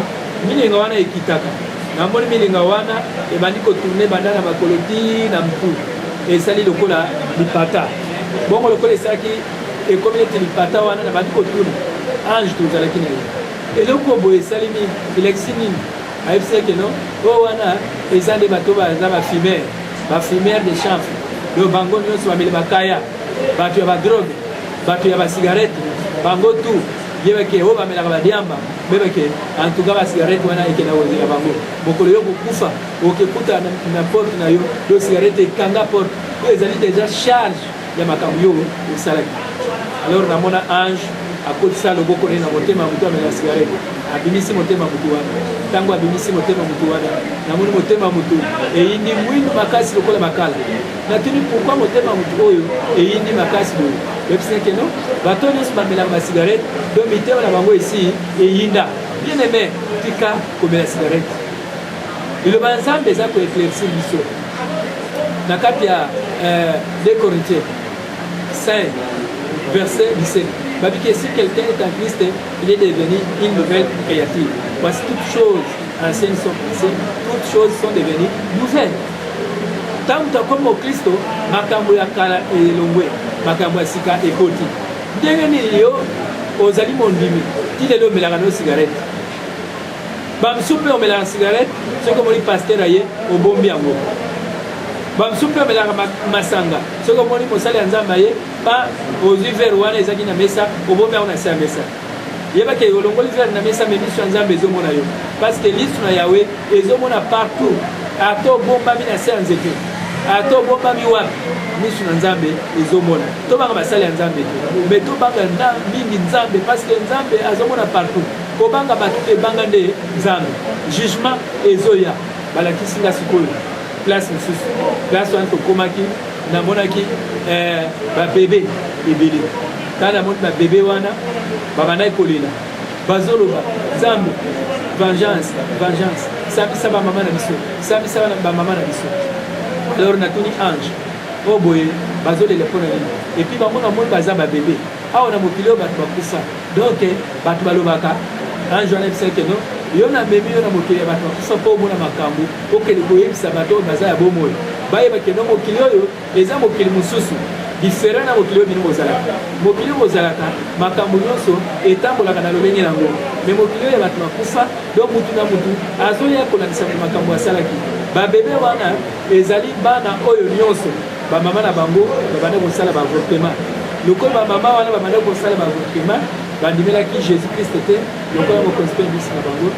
milinga wana ekitaka namoni milinga wana ebandi kotourne banda na makolo ti na mtu esali lokola lipata bongo lokola esalaki ekomi neti lipata wana na bandi kotuna ange tozalaki na ye eloko boye esali nini elakisi nini ayebisi eke no oyo wana eza nde bato baza bafimere bafimere de chanfe do bango nyonso bameli bakaya bato ya badroge bato ya basigarete bango tu yebeke oyo bamelaka badiamba bebeke antuka basigarete wana ekenda kozela bango mokolo yo kokufa okekuta na porte na yo do sigarete ekanga porte oyo ezali deja charge ya makambo yo osalaki alors namona ange akotisa loboko ne na motema ya moto amela sigarete abimisi motema motu wana ntango abimisi motema motu wana namoni motema motu eyindi mwindu makasi lokola makala natuni pourkui motema motu oyo eyindi makasi boye oyebisaki no bato nyonso bamelaka basigarete to mitema na bango esi eyinda bien aime tika komela sigarete Liloba ya Nzambe eza ko eclaircir biso na kati ya 2 euh, Corinthiens 5 verset 17 babi que si quelqu'un est en Christ il est devenu une nouvelle créature voici toutes choses anciennes sont passées toutes choses sont devenues nouvelles ntango tokomi mokristo makambo ya kala elongwe makambo ya sika ekoti ndenge nini yo ozali mondimi ti lelo omelaka no sigarete Bamisusu mpe omelaka cigarette soki omoni pasteur aye obombi yango. Bamisusu mpe omelaka masanga soki omoni mosali ya Nzambe aye pa ozwi verre wana ezaki na mesa obombi yango na se ya mesa. yeba ke olongoli verre na mesa me miso ya nzambe ezomona yo parce que liso na yawe ezomona partout ata obombami na se ya nzete ata obombami wapi miso na nzambe ezomona tobanga basali ya nzambe te me tobanga mingi nzambe parce que nzambe azomona partout Kobanga bato te banga nde Nzambe. Jugement ezoya balakisi nga sikoyo place mosusu place wana tokomaki namonaki eh, babebe ebele ntango namoni babebe wana babandaki kolela bazoloba nzambe vengeance vengeance sambisa bamama na biso sambisa bamama na biso alors natuni ange oyo oh boye bazolela mpo na nini epuis bango namoni baza babebe awa na mokili oyo bato bakufa donc bato balobaka ange wana ebisaki keno yo namemi yo na mokili ya bato bakufa mpo omona makambo okende koyebisa bato oyo baza ya bomoi bayeba keno mokili oyo eza mokili mosusu diferent na mokili oyo bino bozalaka mokili oyo bozalaka makambo nyonso etambolaka na lolenge yango me mokili oyo ya bato bakufa do mutu na mutu azoya kolakisa makambo asalaki babebe wana ezali bana oyo nyonso bamama na bango babandaki kosala baavortema lokola bamama wana babandaki kosala baavortema bandimelaki jésus krist te lokola mokonzi mpe mbisi na bango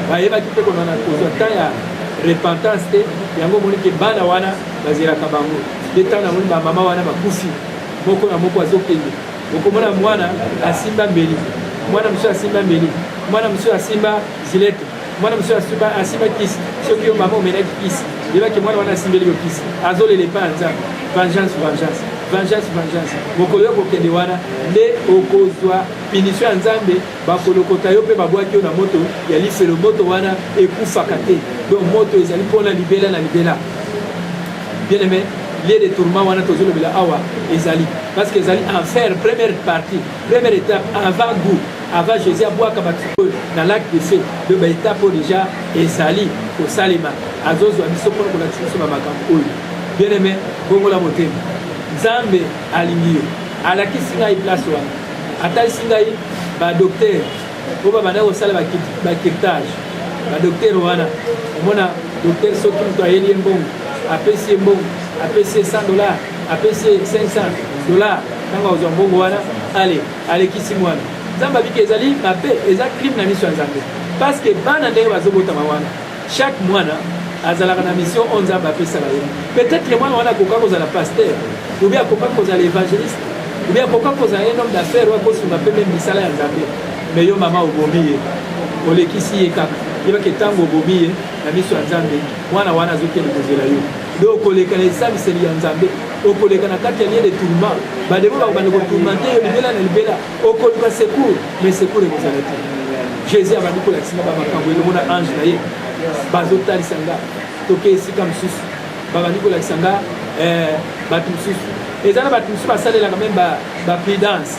bayebaki mpe konana kozwa temps ya repentance te yango omoni ke bana wana bazelaka bango nde ntango namoni bamama wana bakufi moko na moko azokende okomona mwana asimba mbeli mwana mosusu asimba mbeli mwana mosusu asimba zilete mwana mosusu asuba asimba kisi soki yo mama omelaki kisi yebaki mwana wana asimbeli yo kisi azolela epai ya nzambe vengeance vengeance vengeance vengeance mokolo yo kokende wana nde okozwa pinisio ya nzambe bakolokota yo mpe babwaki yo na moto ya lifelo moto wana ekufaka te donc moto ezali mpona libela na libela bien aimé lieu de tourment wana tozolobela awa ezali parce que ezali enfer première partie première étape avant goût Avant Jésus abwaka ba oyo na lac de feu, le ba étape déjà ezali kosalema. Azozwa biso mpo na kolakisa biso ba makambo oyo. Bien aimé, bongola motema. Nzambe alingi yo. Alakisi ngai place wana. Atalisi ngai ba docteur oyo babanda kosala ba kirtage. Ba docteur wana omona docteur soki moto ayeli ye mbongo apesi ye mbongo apesi ye 100 dollars apesi ye 500 dollars ntango azwa mbongo wana ale Alekisi mwana. Nzambe abiki ezali mabe, eza crime na miso ya Nzambe. Parce que bana ndenge bazobotama wana, chaque mwana azalaka na mission oyo Nzambe apesaka ye. Peut-être mwana wana akoka kozala pasteur, ou bien akoka kozala evangeliste, ou bien akoka kozala un homme d'affaires oyo akosunga mpe meme misala ya Nzambe. Mais yo mama obomi ye, olekisi ye kaka. Yebaki ntango obomi ye na miso ya Nzambe, mwana wana azokende kozela yo. Donc koleka na esambiseli ya Nzambe. okoleka na kati ya lieu de tourment bademo bakobanda kotourmente yo libela na libela okoluka secours mais secours ekozala te jésus abandi kolakisa nga bamakambo elongo na ange na ye bazotalisa nga toke esika mosusu babandi kolakisa nga eh, bato mosusu eza na bato mosusu basalelaka meme bapridance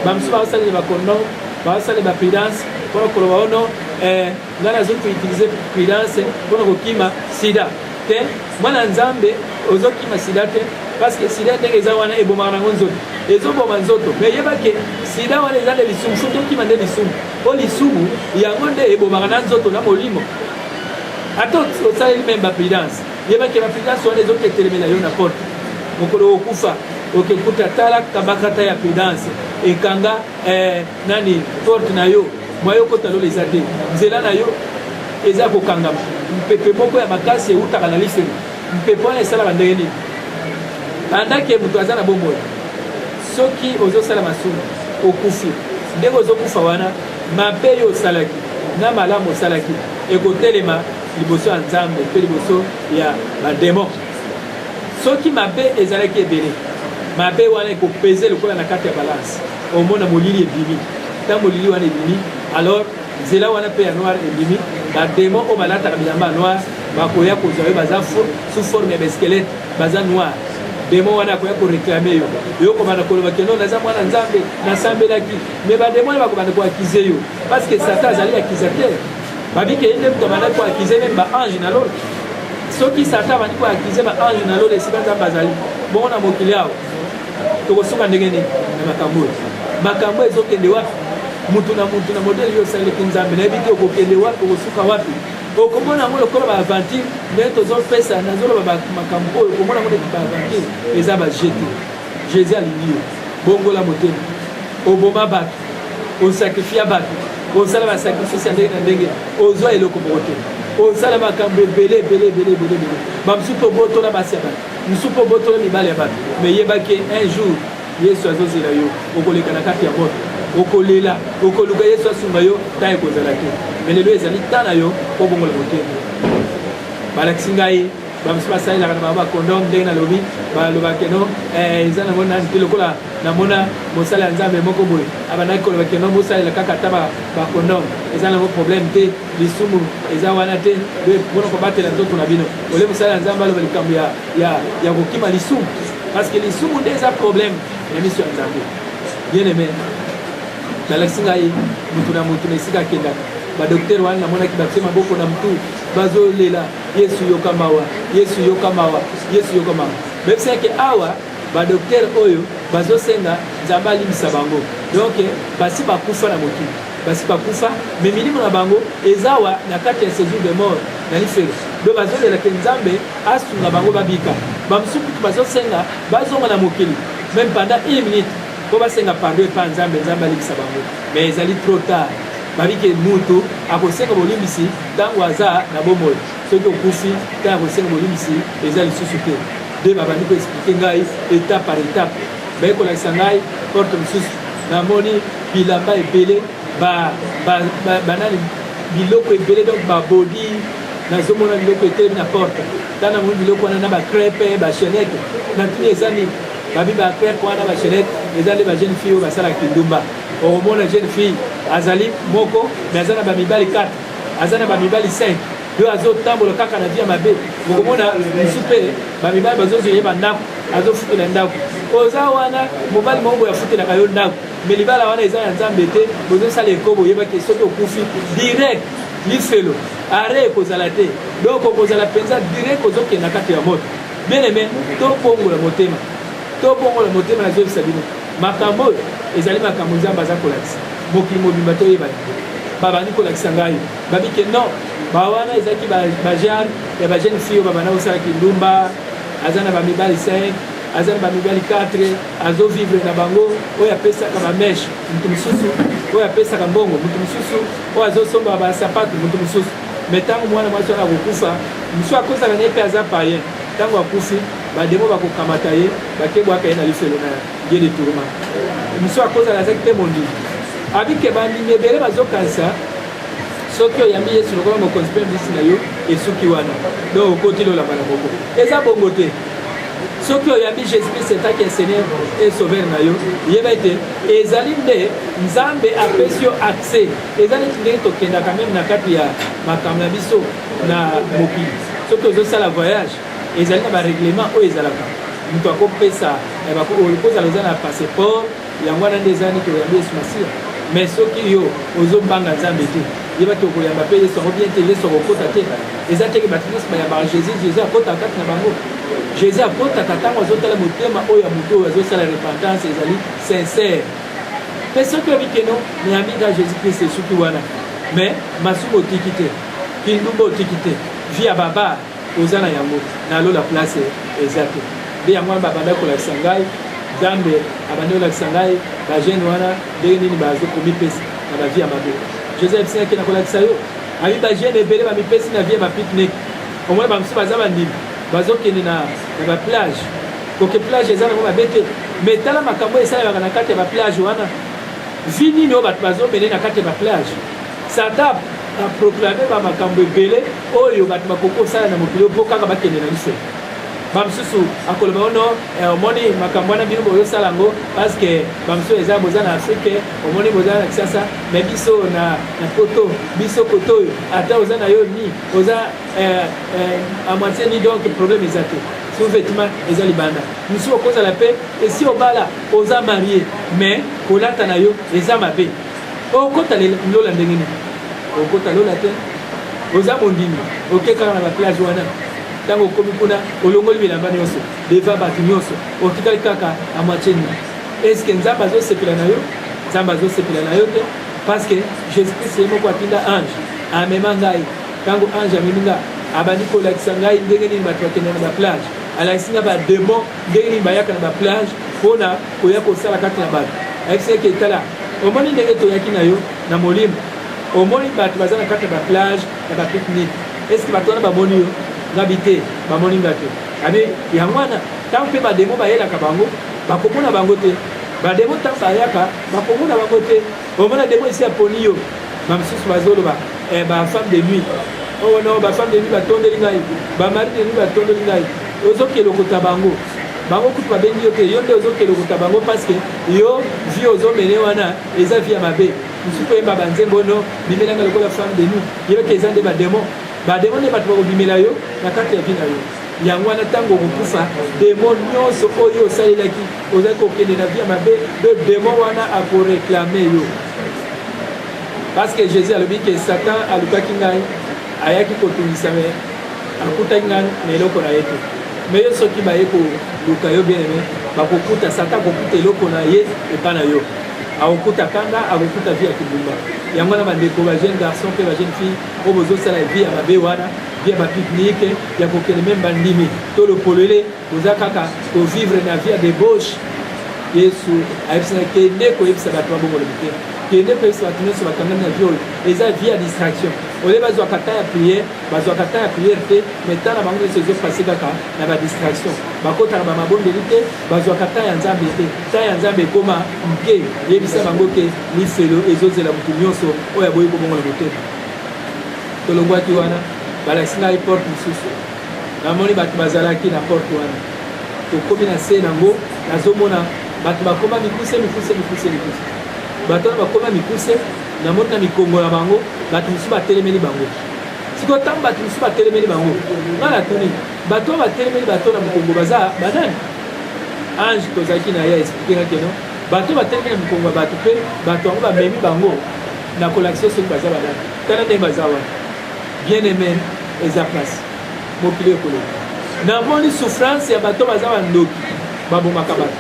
bamosusu baosalela bakondo baosalela bapridance mpona koloba ono oh eh, ngai nazoki koutilize prudence mpo na kokima sida te mwana nzambe ozokima sida te parceke sida ndenge eza wana ebomaka nango nzoto ezoboma nzoto me yeba ke sida wana eza nde lisumu soki okima nde lisumu mpo lisumu yango nde ebomaka na nzoto na molimo ata osaleli meme baprudence yeba ke baprudence wana ezoki etelemela yo na porte mokolo okokufa okekuta tala kabakata ya prudence ekanga eh, nani porte na yo mwa yo kota lola eza te nzela na yo eza kokangama mpepe moko ya makasi eutaka na lifelo mpepe wana esalaka ndenge nini andake moto aza na bomoi soki ozosala masumu okufi ndenge ozokufa wana mabe yo osalaki na malamu osalaki ekotelema liboso ya nzambe mpe liboso ya bademon soki mabe ezalaki ebele mabe wana ekopeze lokola na kati ya balanse omona molili ebimi ta molili wana ebimi alors nzela wana mpe ya noir ebimi bademo oyo balataka bilamba ya noir bakoya kozwa yo baza sous forme ya baesquelete baza noir demo wana akoya koreklame yo yo kobanda koloba keno naza mwana nzambe nasambelaki me bademo wana bakobanda koakize yo parce que satan azali accusateur babike ye nde moto abandaki koakize meme baange na lola soki satan abandi koakize baange na lola esika nzambe azali bongo na mokili awa tokosuka ndenge nini na makambo oyo makambo oyo ezokende wapi motu na motu na modele yo osaleleki nzambe nayebi te okokende wapi okosuka wapi okomona yango lokola baaventure nde tozopesa nazoloba makambo oyo okomona yango neti baaventure eza baje te jésus alingi yo bongola motema oboma bato osakrifia bato osala basakrifisi ya ndenge na ndenge ozwa eloko moko te osala makambo ebele ebele ebele ebele ebele bamosusu tobotola basi ya bato nsuka obotola mibali ya bato me yeba ke un jour yesu azozela yo okoleka na kati ya moto okolela okoluka yesu asunga yo ntango ekozala te me lelo ezali ntan na yo kobongola motema balakisi ngai bamosusu basalelaka na bango bakondom ndenge nalobi balobaka no eh, eza nango nani te lokola namona mosala ya nzambe moko boye abandaki koloba keno bosalela kaka ata bakondom eza nango problème te lisumu eza wana te mpona kobatela nzoto na bino ole mosala ya nzambe aloba likambo ya, ya, ya kokima lisumu parceke lisumu nde eza probleme na miso ya nzambe bien aime nalakisi ngai motu na motu na esika akendaka badoktere wana namonaki batie maboko na motu bazolela yesu yoka mawa yesu yoka mawa yesu yoka mawa bayebisa yeke awa badoktere oyo bazosenga nzambe alimbisa bango donk basi bakufa na mokili basi bakufa me milimo na bango ezawa na kati ya sejour de mort na lifelo do bazolela ke nzambe asunga bango babika bamosusu kutu bazosenga bazonga na mokili meme pendant une minute mpo basenga pardon epa nzambe nzambe alibisa bango me ezali trop tard babike mutu akosenga bolimbisi ntango aza na bomoi soki okufi ntango akosenga bolimbisi eza lisusu te nde babandi koexplike ngai etape par etape baye kolakisa ngai porte mosusu namoni bilamba ebele banani biloko ebele donc babodi nazomona biloko etelemi na porte ntango namoni biloko wana na bacrepe bachenete natuni eza nini babi bacrepe wana bachenete eza nde bajeune fille oyo basalaka kindumba okomona jeune fille azali moko me aza na bamibali 4 aza na bamibali 5 yo azo tambola kaka na vie ya mabe okomona musu mpe bamibali bazozwa ye bandako azofutela ndako oza wana mobali moko boye afutelaka yo ndako me libala wana eza ya nzambe te bozosala ekobo oyebaki soki okufi direct lifelo are ekozala te donc okozala mpenza direct ozokenda kati ya moto bien aime tobongola motema tobongola motema nazongisa bino makambo oyo ezali makambo nzambe aza kolakisa mokili mobimba toyeba babandi kolakisa ngai babi ke non ba wana ezalaki bajane ya bajeune fille oyo babanda kosala kindumba aza na bamibali 5 aza na bamibali 4 azovivre na bango oyo apesaka bameshe moto mosusu oyo apesaka mbongo moto mosusu oyo azosomba basapatu moto mosusu me ntango mwana mwasi wana akokufa mosusu akozala na ye mpe aza payen ntango akufi bademo bakokamata ye bakebwaka ye na lifelo na ye ye de tourma mosu akozala azaki mpe mondimi abike bandimi ebele bazokanisa soki oyambi yesu lokola mokonzi mpe mbisi na yo esuki wana donc okoti lola mbala moko eza bongo te soki oyambi jésus christ etaki ya seigneur e sauveur na yo yeba ete ezali nde nzambe apesi yo accès eza neti ndenge tokendaka meme na kati ya makambo na biso na mokili soki ozosala voyage Ezali na ba reglement oyo ezalaka moto akopesa eh, okozala oza na passeport yango wana nde eza nini toyambi yesu masiya mais soki yo ozobanga nzambe te yeba te okoyamba mpe yesu yango bien te yesu akokota te eza teke bato nyonso bayambaka jésus jésus akotaka kati na bango jésus akotaka ntango azotala motema oyo ya moto oyo azosala repentance ezali sincère mpe soki oyebi keno nayambi nga jésus christ esuki wana mais masumu otiki te kindumba otiki te vi ya babare oza na yango na lola place eza te nde yango wana babandaki kolakisa ngai nzambe abandi kolakisa ngai bajeune wana ndenge nini bazokomipesa na bavie ya mabe joseph seke nakolakisa yo abi bajeune ebele bamipesi na vie ya bapicnic omoi bamosusu baza bandimi bazokende na baplage koke plage eza nango mabe te mai tala makambo esalemaka na kati ya baplage wana vi nini oyo bato bazomene na kati ya baplage satan aproclame bamakambo ebele oyo bato bakoki kosala na mokili mpo kaka bakende na biso bamosusu akoloba ono eh, omoni makambo wana bino boyosala yango parceke bamosusu eza boza na afrike omoni boza na kisasa me biso na poto biso kote oyo ata oza na yo ni oza eh, eh, amoitie ni donc problème eza te sous-vêtement eza libanda mosusu okozala mpe esi obala oza marie mais kolata na yo eza mabe Okota lola ndenge nini? Okota lola te. Oza mondimi, oke kaka na ba plage wana. Tango okomi kuna, olongoli bilamba nyonso, deva bato nyonso, otikali kaka na moitié nini? Est-ce que Nzambe azosepela na yo? Nzambe azosepela na yo te, parce que Jésus-Christ ye moko atinda ange amema ngai. Tango ange amemi nga, abandi kolakisa ngai ndenge nini bato bakenda na ba plage, alakisi nga ba demon ndenge nini bayaka na ba plage mpona koya kosala kati na bato ayebisi eke tala omoni ndenge toyaki na yo na molimo omoni bato baza na kati ya baplage ya bapiknik eske bato wana bamoni yo ngabi te bamoni nga te abi yango wana ntango mpe bademo bayelaka bango bakomona bango te bademo ntango bayaka bakomona bango te omona demo esi aponi yo bamosusu bazoloba eh, bafemme de nuit owo oh, no bafemme de nuit batondeli ngai bamari de nuit batondeli ngai ozokela okota bango bango kutu babengi yo te yo nde ozokende okuta bango parceke yo vie ozomene wana eza vie ya mabe mosusu koyemba banzembo ono bimelanga lokola femme de nous yeyoki eza nde bademo bademo nde bato bakobimela yo na kati ya vie na yo yango wana ntango okokufa demo nyonso oyo osalelaki ozali kokende na vie ya mabe de demo wana akoreklame yo parce que jésus alobi ke satan alukaki ngai ayaki kotungisa me akutaki na eloko na ye te me yo soki baye koluka yo bien aime bakokuta sata akokuta eloko na ye epa na yo akokuta kanda akokuta vie ya kibumba yango wana bandeko ba jeune garçon mpe ba jeune fille oyo bozosala vie ya mabe wana vie ya bapibnike ya kokende meme bandimi to lopolele boza kaka kovivre na vie ya debauche yesu ayebisaka kende koyebisa bato babongolo mitema kende koyebisa bato nyonso bakangami na vie oyo eza vie ya distraction olie bazwaka ta ya priere bazwaka temps ya prière te mais temps na bango nyonso ezo passe kaka na ba distraction bakotaka ba mabondeli te bazwaka temps ya nzambe te temps ya nzambe ekoma mke yebisa bango ke lifelo ezozela motu nyonso oyo aboyi kobongola motema tolongwaki wana balakisi ngai porte mosusu namoni bato bazalaki na porte wana tokomi na se nango nazomona bato bakoma mikuse mikuse mikuse mikuse bato wana bakoma mikuse namoni na mikongo na bango bato mosusu batelemeli bango sikoyo ntango bato mosusu batelemeli bango ngai natuni bato oyo batelemeli bato na mokongo baza banani ange tozalaki na ye explike nga keno bato oyo batelemeli na mokongo ya bato mpe bato yango bamemi bango na kolakisa soki baza banani tala ndenge baza wana bien aime eza place mokili ekoloba namoni souffrance ya bato baza bandoki babomaka bato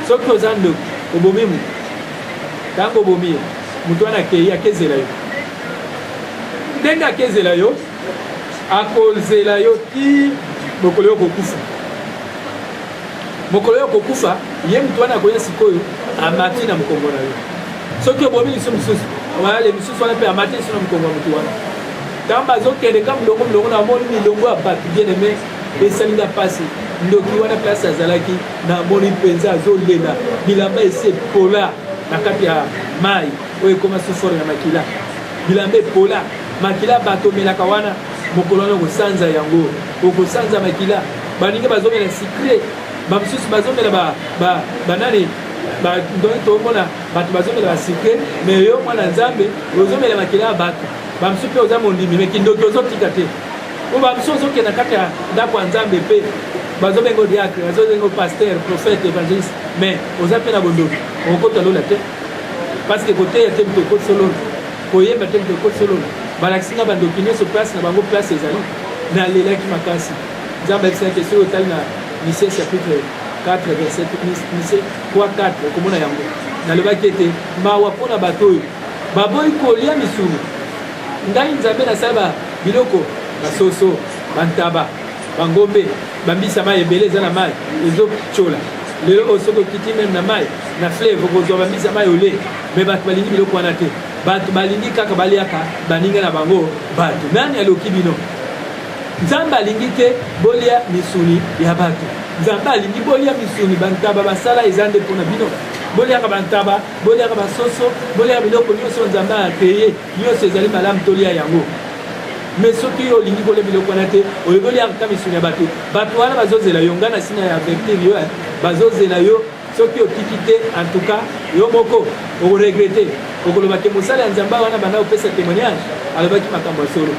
soki oza ndoki obomi moto ntango obomi ye moto wana akei akezela yo ndenge akezela yo akozela yo ti mokolo yo kokufa mokolo yo kokufa ye motu wana akoya sikoyo amati na mokongo na yo soki obomi liso mosusu wayale mosusu wana mpe amati liso na mokongo ya motu wana ntango bazokende ka molongo molongo na moni milongo ya bato bien aime esali nga mpasi ndoki wana place azalaki namoni mpenza azolela bilamba esi epola na kati ya mai oyo ekoma sous forme ya makila bilamba epola makila bato omelaka wana mokolo wana okosanza yango okosanza makila baninga bazomela sikre bamosusu bazomela banani donc tokomona bato bazomela basikre me yo mwana nzambe ozomela makila ya bato bamosusu mpe oza mondimi me kindoki ozotika te po bamosusu ozokenda kati ya ndako ya nzambe mpe bazobengo diacre bazobengo paster prophète evangeliste mais oza mpe na bondoki okokota lola te parce que koteya te moto ekoti sololo koyemba te moto ekoti sololo balakisi nga bandoki nyonso place na bango place ezali nalelaki makasi nzambe ayebisaki soki otali na mise chapitre 4 verset mise 3 4 okomona yango nalobaki ete mawa mpo na bato oyo baboyi kolia misuni ngai nzambe nasala biloko basoso bantaba Bangombe, bambisi ya mai ebele eza na mai ezotyola lelo oyo soki okiti meme na mai na fleuve okozwa bambisi ya mai ole me bato balingi biloko wana te bato balingi kaka baliaka baninga na bango bato nani aloki bino nzambe alingi te bolia misuni ya bato nzambe alingi bolia misuni bantaba basala eza nde mpo na bino boliaka bantaba boliaka basoso boliaka biloko nyonso nzambe akeye Nionso ezali malamu tolia yango. Mais soki yo olingi kolia biloko wana te, oyeboli ata misuni ya bato. Bato wana bazozela yo, ngai nasi na avertir yo, bazozela yo soki otiki te en tout cas yo moko okoregrete okoloba te mosala ya nzambe wana banda kopesa témoignage alobaki makambo ya solo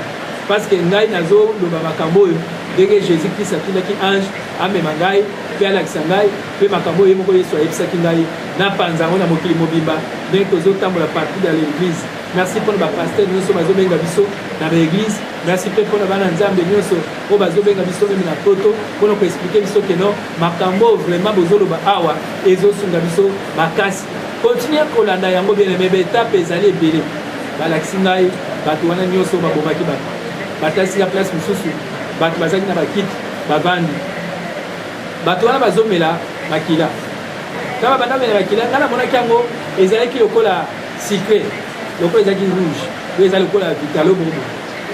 parce que ngai nazoloba makambo oyo ndenge jésus christ atindaki ange amema ngai mpe alakisa ngai mpe makambo oyo ye moko yesu ayebisaki ngai na panza yango na mokili mobimba ndenge tozotambola partout dans l'église merci mpo na bapaster nyonso bazobenga biso na baeglise merci mpe mpo na bana nzambe nyonso oyo bazobenga biso meme na poto mpo na koexplike biso ke non makambo oyo vraiment bozoloba awa ezosunga biso makasi continue kolanda yango bien aime baetape ezali ebele balakisi ngai bato wana nyonso babomaki bato batasi ya place mosusu bato bazalaki na bakiti bavandi bato wana bazomela makila Kaka banda mela makila nga namonaki yango ezalaki lokola sucre lokola ezalaki rouge oyo eza lokola vitalo bongo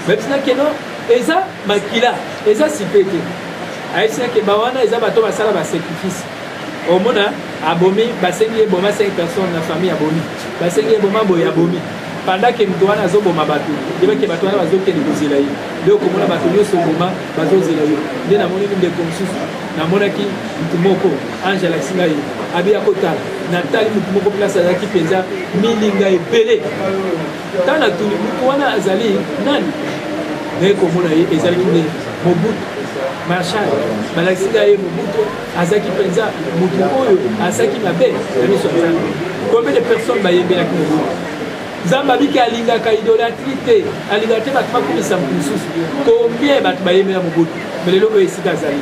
bayebisi nake no eza makila eza sucre te ayebisi nake ba wana eza bato basala basacrifice omona abomi basengi ye boma 5 personnes na famille abomi basengi ye boma boye abomi pendant ke moto wana azoboma bato yebake bato wana bazokende kozela ye nde okomona bato nyonso oboma bazozela yo nde namoni ndeko mosusu namonaki motu moko ange alakisi ngai abi ya kotala natali motu moko place azalaki mpenza milinga ebele ntango natuni motu wana azali nani naye komona ye ezalaki nde mobutu marshal balakisi ngai ye mobutu azalaki mpenza motu oyo azalaki mabe na miso ya nzambe combien de personnes bayembelaki mobutu Nzambe abiki alingaka idolatrie te, alingaka te bato bakumisa moto mosusu. Combien bato bayemela Mobutu, mais lelo oyo esika azali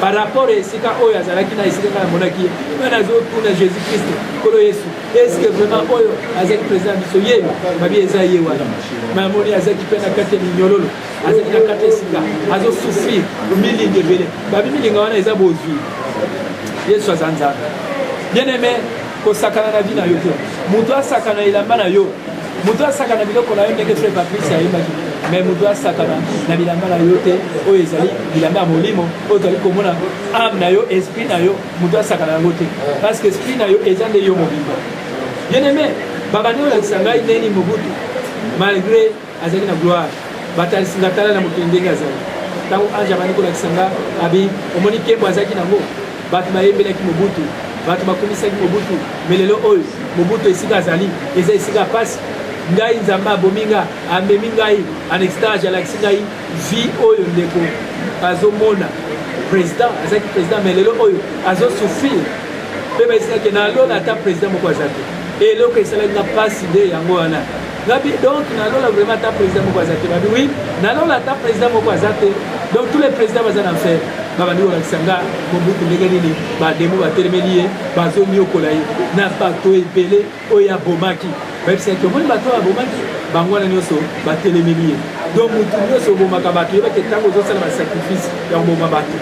par rapport ya esika oyo azalaki na esika ngai namonaki ye ngai nazotuna jésus kristo nkolo yesu eske vraiment oyo azaki président ya biso ye babi eza ye wana mamoni azaki mpe na kati ya minyololo azali na kati ya esika azosouffrir milinga ebele babi milinga wana eza bozwi yesu aza nzambe bien aimé kosakana na vie na yo te moto asakana elamba na yo moto asakana biloko na yo ndenge fre patrice ayebaki me moto asakana na bilamba na yo te oyo ezali bilamba ya molimo oyo tozali komona ame na yo esprit na yo moto asakana yango te parce que esprit na yo eza nde yo mobimba bien aime babandi olakisa ngai ndeni mobutu malgré azali na gloire batalisi nga tala na mokili ndenge azali ntango ange abandi kolakisa nga abi omoni nkembo azalaki nango bato bayembelaki mobutu bato bakumisaki mobutu me lelo oyo mobutu esika azali eza esika mpasi ngai nzambe abomi nga amemi ngai en extage alakisi ngai vie oyo ndeko azomona président azalaki président me lelo oyo azosouffrir mpe bayesinaki na lola ata président moko aza te eloko esalaki nga mpasi nde yango wana Nabi, donc na lola vraiment ata président moko aza te babi oui na lola ata président moko aza te donc tous les présidents baza na fer babandi kolakisa nga mobutu ndenge nini bademo batelemeli ye bazoniokola ye na bato ebele oyo abomaki bayebisaki omoni bato oyo abomaki bango wana nyonso batelemeli ye donc motu nyonso obomaka bato yebaki ntango ozosala basacrifice ya koboma bato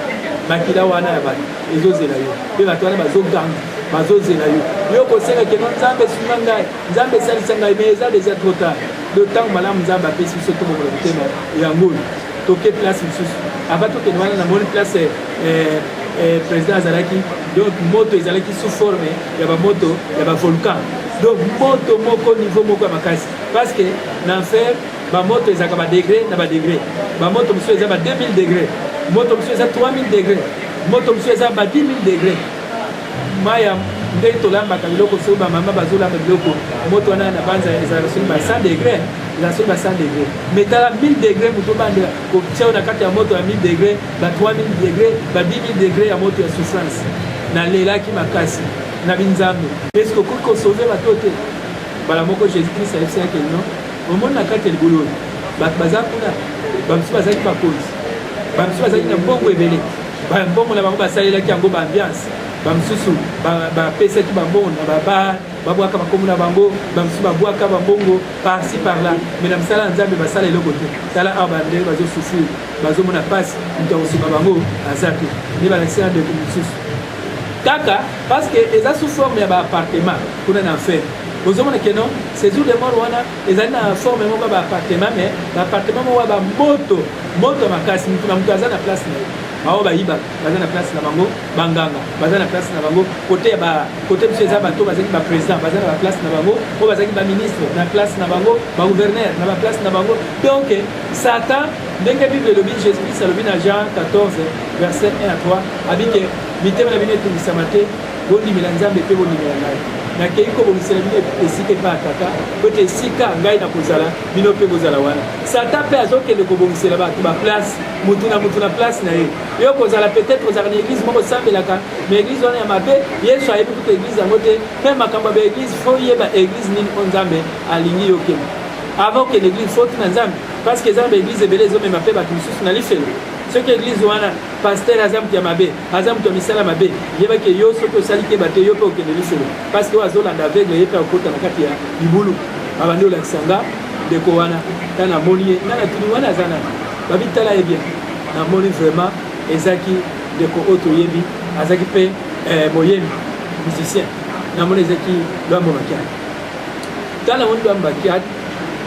makila wana ya bato ezozela yo mpe bato wana bazoganga bazozela yo yo kosenga keno nzambe sunga ngai nzambe esalisa ngai mais eza deja trop tard do ntango malamu nzambe apesi biso tobokola motema yango oyo toke place mosusu ava tokende wana namoni place eh, eh, eh, président azalaki donc moto ezalaki sous forme ya bamoto ya bavolcan donc moto moko niveau moko ya makasi parce que na enfer bamoto ezalaka badegre na badegre bamoto mosusu eza ba 2000 degre moto mosusu eza 3000 degre moto mosusu eza ba 10 000 degre maya ndenge tolambaka biloko soki bamama bazolamba biloko moto wana na banza ezalaka soki ba 100 degre eza soki ba 100 degre mais tala 1000 degre moto obandela kotia na kati ya moto ya 1000 degre ba 3000 degre ba 10000 degre ya moto ya souffrance nalelaki makasi na binzambe eske okoki kosove bato te mbala moko jésus christ ayebisi yake no omoni na kati ya libulu oyo bato baza kuna bamosusu bazalaki bakonzi bamosusu bazalaki na mbongo ebele Mbongo na bango basalelaki yango ba ambiance, bamosusu bapesaki ba bambongo na babar, babwaka bakombo na bango, bamosusu babwaka bambongo parci par là, mais na mosala ya Nzambe basala eloko te. Tala awa bandenge bazo souffrir, bazomona mpasi, moto akosunga bango aza te, nde balakisi na ndeko mosusu kaka parce que eza sous forme ya ba appartement kuna na enfer bozomona keno séjour de mort wana ezali na forme moko ya baappartement mais baappartement moko ya bamoto moto ya makasi motu na moto aza na place na ye baoyo bayibaka baza na place na bango banganga baza na place na bango kote ya kote biso eza bato bazalaki baprésident baza na baplace na bango oyo bazalaki baministre na place na bango bagouverneur na baplace na bango donc satan ndenge bible elobi jésus christ alobi na jean 14 verset 1 à 3 abike mitema na bino etungisama te bondimela nzambe mpe bondimela ngai nakei kobongisela bino esika epai ya tata mpo ete esika ngai nakozala bino mpe bozala wana satan mpe azokende kobongisela bato baplace motu na motu na place na ye yo kozala peut-être ozalaka na église moko osambelaka ma église wana ya mabe yesu ayebi kutu église yango te mpe makambo ya baéglise fo yeba église nini o nzambe alingi yo okende avant okende église fo tuna nzambe parce que eza na baéglise ebele ezomema mpe bato mosusu na lifelo soki église wana pasteur aza moto ya mabe aza moto ya misala mabe yeba ke yo soki osali keba te yo mpe okende lisolo parce que oyo azolanda aveugle ye mpe akota na kati ya libulu abandi olakisa nga ndeko wana ta namoni ye nga natuni wana aza nani babi tala ye bien namoni vraiment ezaki ndeko oyo toyebi azalaki mpe eh, moyembi musicien namoni ezalaki lwambo makiani ta namoni lwambo makiani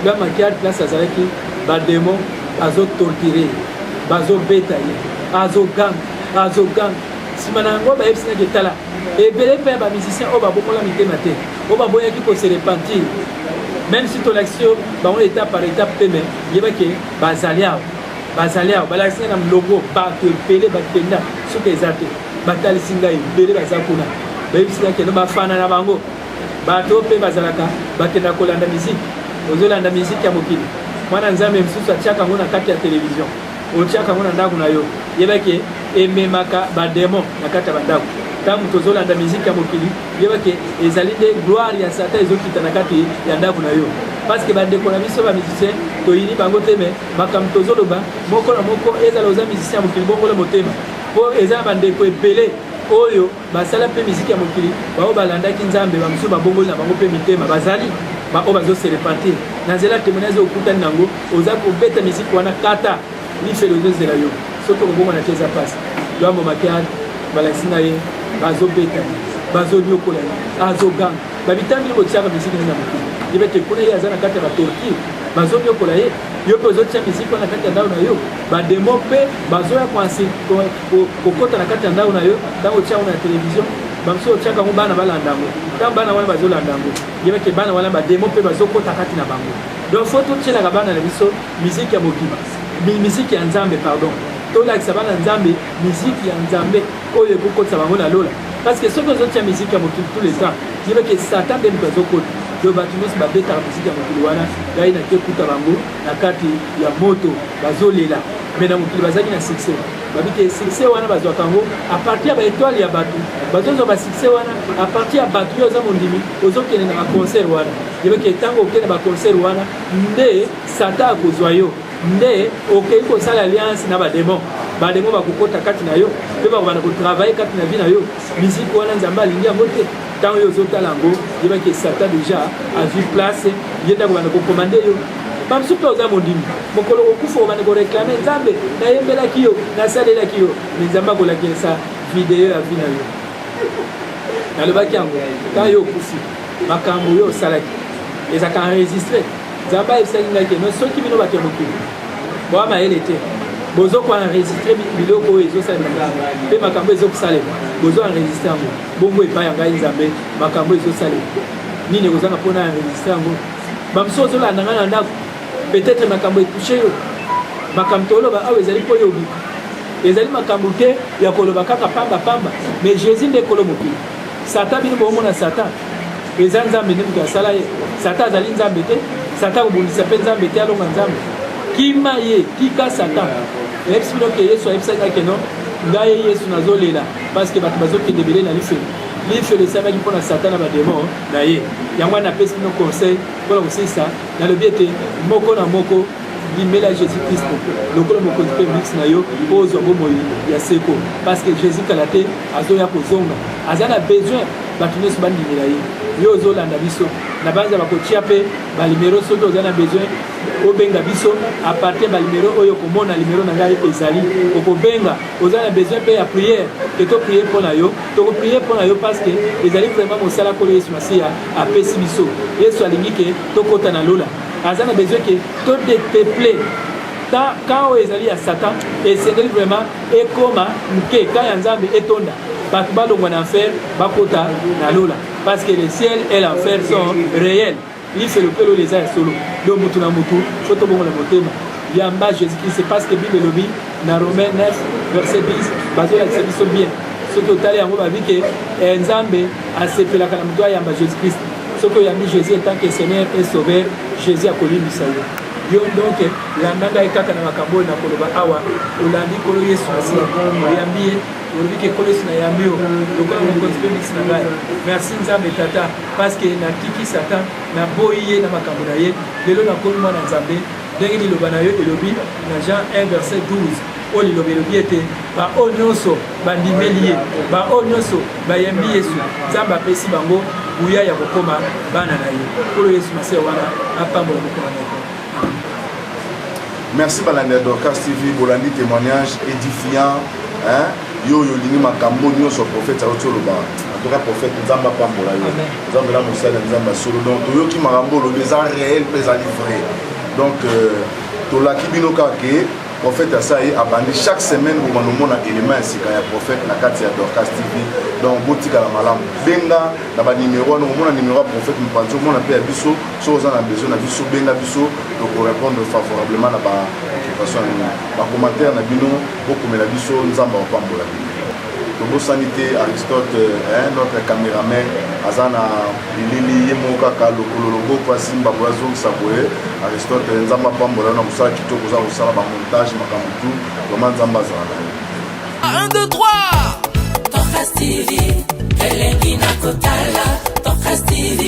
ya makiari place azalaki bademo azotortire bazobeta ye azoganga azoganga nsima na yango bayebisi naki etala ebele mpe ya bamusicien oyo babokola mitema te oyo baboyaki koserepentir même si tolakisi yo bango étape par étape te me yebake bazali awa bazali awa balakisi ngai na molongo bato ebele bakenda soki eza te batalisi ngai ebele baza kuna bayebisi ngai kende bafana na bango bato oyo mpe bazalaka bakenda kolanda miziki ozolanda miziki ya mokili mwana nzambe mosusu atiaka yango na kati ya televizio otiaka yango na ndako na yo yebake ememaka bademo na kati ya bandako ntango tozolanda miziki ya mokili yebake ezali nde gloire ya satan ezokita na kati ya ndako na yo parce que bandeko na biso bamusicien toyini bango te me makambo tozoloba moko na moko ezala oza musicien ya mokili bongola motema mpo eza na bandeko ebele oyo Basala mpe miziki ya mokili, baoyo balandaki Nzambe, bamosusu babongoli na bango mpe mitema, bazali baoyo bazo se repentir. Na nzela temoignage oyo okutani na yango, oza kobeta miziki wana kata lifelo ezozela yo, soki okobongwana te eza pasi. Luambo Makiadi balakisi na ye bazobeta bazoniokola ye azoganga babitambi ye botiaka miziki nini na mokili yebe te kuna ye aza na kati ya batorture bazoniokola ye yo mpe ozotia miziki wana kati ya ndao na yo bademo mpe bazoya kokota na kati ya ndako na yo ntango otya yango na televizio bamosusu otyaka yango bana balanda yango ntango bana wana bazolanda yango yebake bana wana bademo mpe bazokota kati na bango donc fo totyelaka bana na biso miziki ya mokili miziki ya nzambe pardon tolakisa bana nzambe miziki ya nzambe oyo ekokotisa bango na lola parce que soki ozotya miziki ya mokili tout le temps yebake satan nde moto azokota donc bato nyonso babetaka miziki ya mokili wana ngai nake kuta bango na kati ya moto bazolela mais na mokili bazalaki na succès babi te succès wana bazwaka yango à partir ya ba étoile ya bato bazozwa ba succès wana à partir ya bato yo oza mondimi ozokende na ba concert wana yebeke ntango okende ba concert wana nde satan akozwa yo nde okei kosala alliance na bademon bademon bakokota kati na yo mpe bakobanda kotravaille kati na vi na yo miziki wana nzambe alingi yango te ntango yo ozotala yango yebaki esata deja azwi place ye nde akobanda kokomande yo bamosusu mpe oza mondimi mokolo kokufa obanda koreklame nzambe nayembelaki yo nasalelaki yo me nzambe akolakisa video ya vi na yo nalobaki yango ntango yo okufi makambo yo osalaki ezalaka enregistre nzambe ayebisaki ngai keno soki bino bato ya mokili boa mayele te bozo koenregistre biloko oyo ezosalema mpe makambo ezokosalema bozo enregistre yango bongo epai ya ngai nzambe makambo ezosalema nini ekozanga mpo na enregistre yango bamosusu ozolanda ngai na ndako peut-être makambo etouche yo makambo toloba awa ezali mpo yo obika ezali makambo te ya koloba kaka pamba pamba mais jésus nde kolo mokili satan bino boomona satan eza nzambe nde moto asala ye satan azali nzambe te satan kobundisa mpe nzambe te alonga nzambe kima ye tika satan eyebisi bino ke yesu ayebisaki ake no ngai yesu nazolela parce que bato bazokende ebele na lifelo lifelo esalaki mpo na satan na bademo na ye yango wana napesi bino conseil mpo na kosilisa nalobi ete moko na moko limela jésus kristo lokola mokonzi mpe mix na yo mpo ozwa bomoi ya seko parce que jésus kala te azoya kozonga aza na besoin bato nyonso bandimela ye yo ozolanda biso na banza bakotya mpe balimero soki oza na besoin obenga biso apartir balimero oyo okomona limero na ngai ezali okobenga oza na besoin mpe ya priere ke to prier mpo na yo toko prier mpo na yo parce que ezali vraiment mosala nkolo yesu masiya apesi biso yesu alingi ke tokɔta na lola aza na besoin ke to depeple ta ka oyo ezali ya satan esengeli vraiment ekoma moke ka ya nzambe etonda bato balongwa na enfer bakota na lola parce que le ciel et l'enfer sont réels Lifelo mpe lola eza ya solo, donc moto na moto faut tobongola motema yamba Jesus Christ. C'est parce que Bible elobi na Romains 9 verset 10 bazolakisa biso bien soki otali yango babi ke eh, Nzambe asepelaka na moto ayamba Jesus Christ. Soki oyambi Jesus en tant que Seigneur et Sauveur, Jesus akolimbisa yo yo donc landa ngai kaka na makambo oyo nakoloba awa olandi nkolo yesu asi oyambi ye olobi ke nkolo yesu nayambi yo lokola mokonzi mpe bisi na ngai merci nzambe tata Parce que na kiki satan na boyi ye na makambo na ye lelo na komi mwana nzambe ndenge liloba na yo elobi na Jean 1 verset 12 oyo liloba elobi ete baoyo nyonso bandimeli ye baoyo nyonso bayembi yesu nzambe apesi bango nguya ya kokoma bana na ye nkolo yesu masiya wana apambola mokolo na yo merci balandi ya dorcas tv bolandi témoignage édifiant hein? yo oyo olingi makambo nyonso profete auti oloba antuka profete nzambe apambola yo nzambe na mosali ya nzambe ya solo donc toyoki makambo olobi eza réel mpe ezali vrai donc euh, tolaki bino kaka ke profete asa ye abandi chaque semaine bomana omona élément ya sika ya profete na kati ya dorcas tv donc botikala malamu benga na banimero wana omona nimero ya profete mopanzi omona mpe ya biso soki oza na besoin na biso benga biso tokorépondre favorablement na baoccupation ya bino bacommentaire na bino Bokomela biso Nzambe akopambola bino. Tobosani te Aristote eh, notre cameraman aza na bilili ye moko kaka lokolo loboko asimba boye azongisa boye. Aristote Nzambe apambola na mosala kitoko oza kosala ba montage makambo tu vraiment Nzambe azala na yo. 1 2 3 Torres TV elengi na kotala Torres TV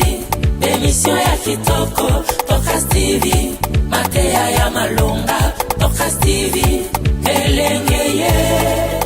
emission ya kitoko Torres TV Mateya ya malonga, Docas TV, elengeye.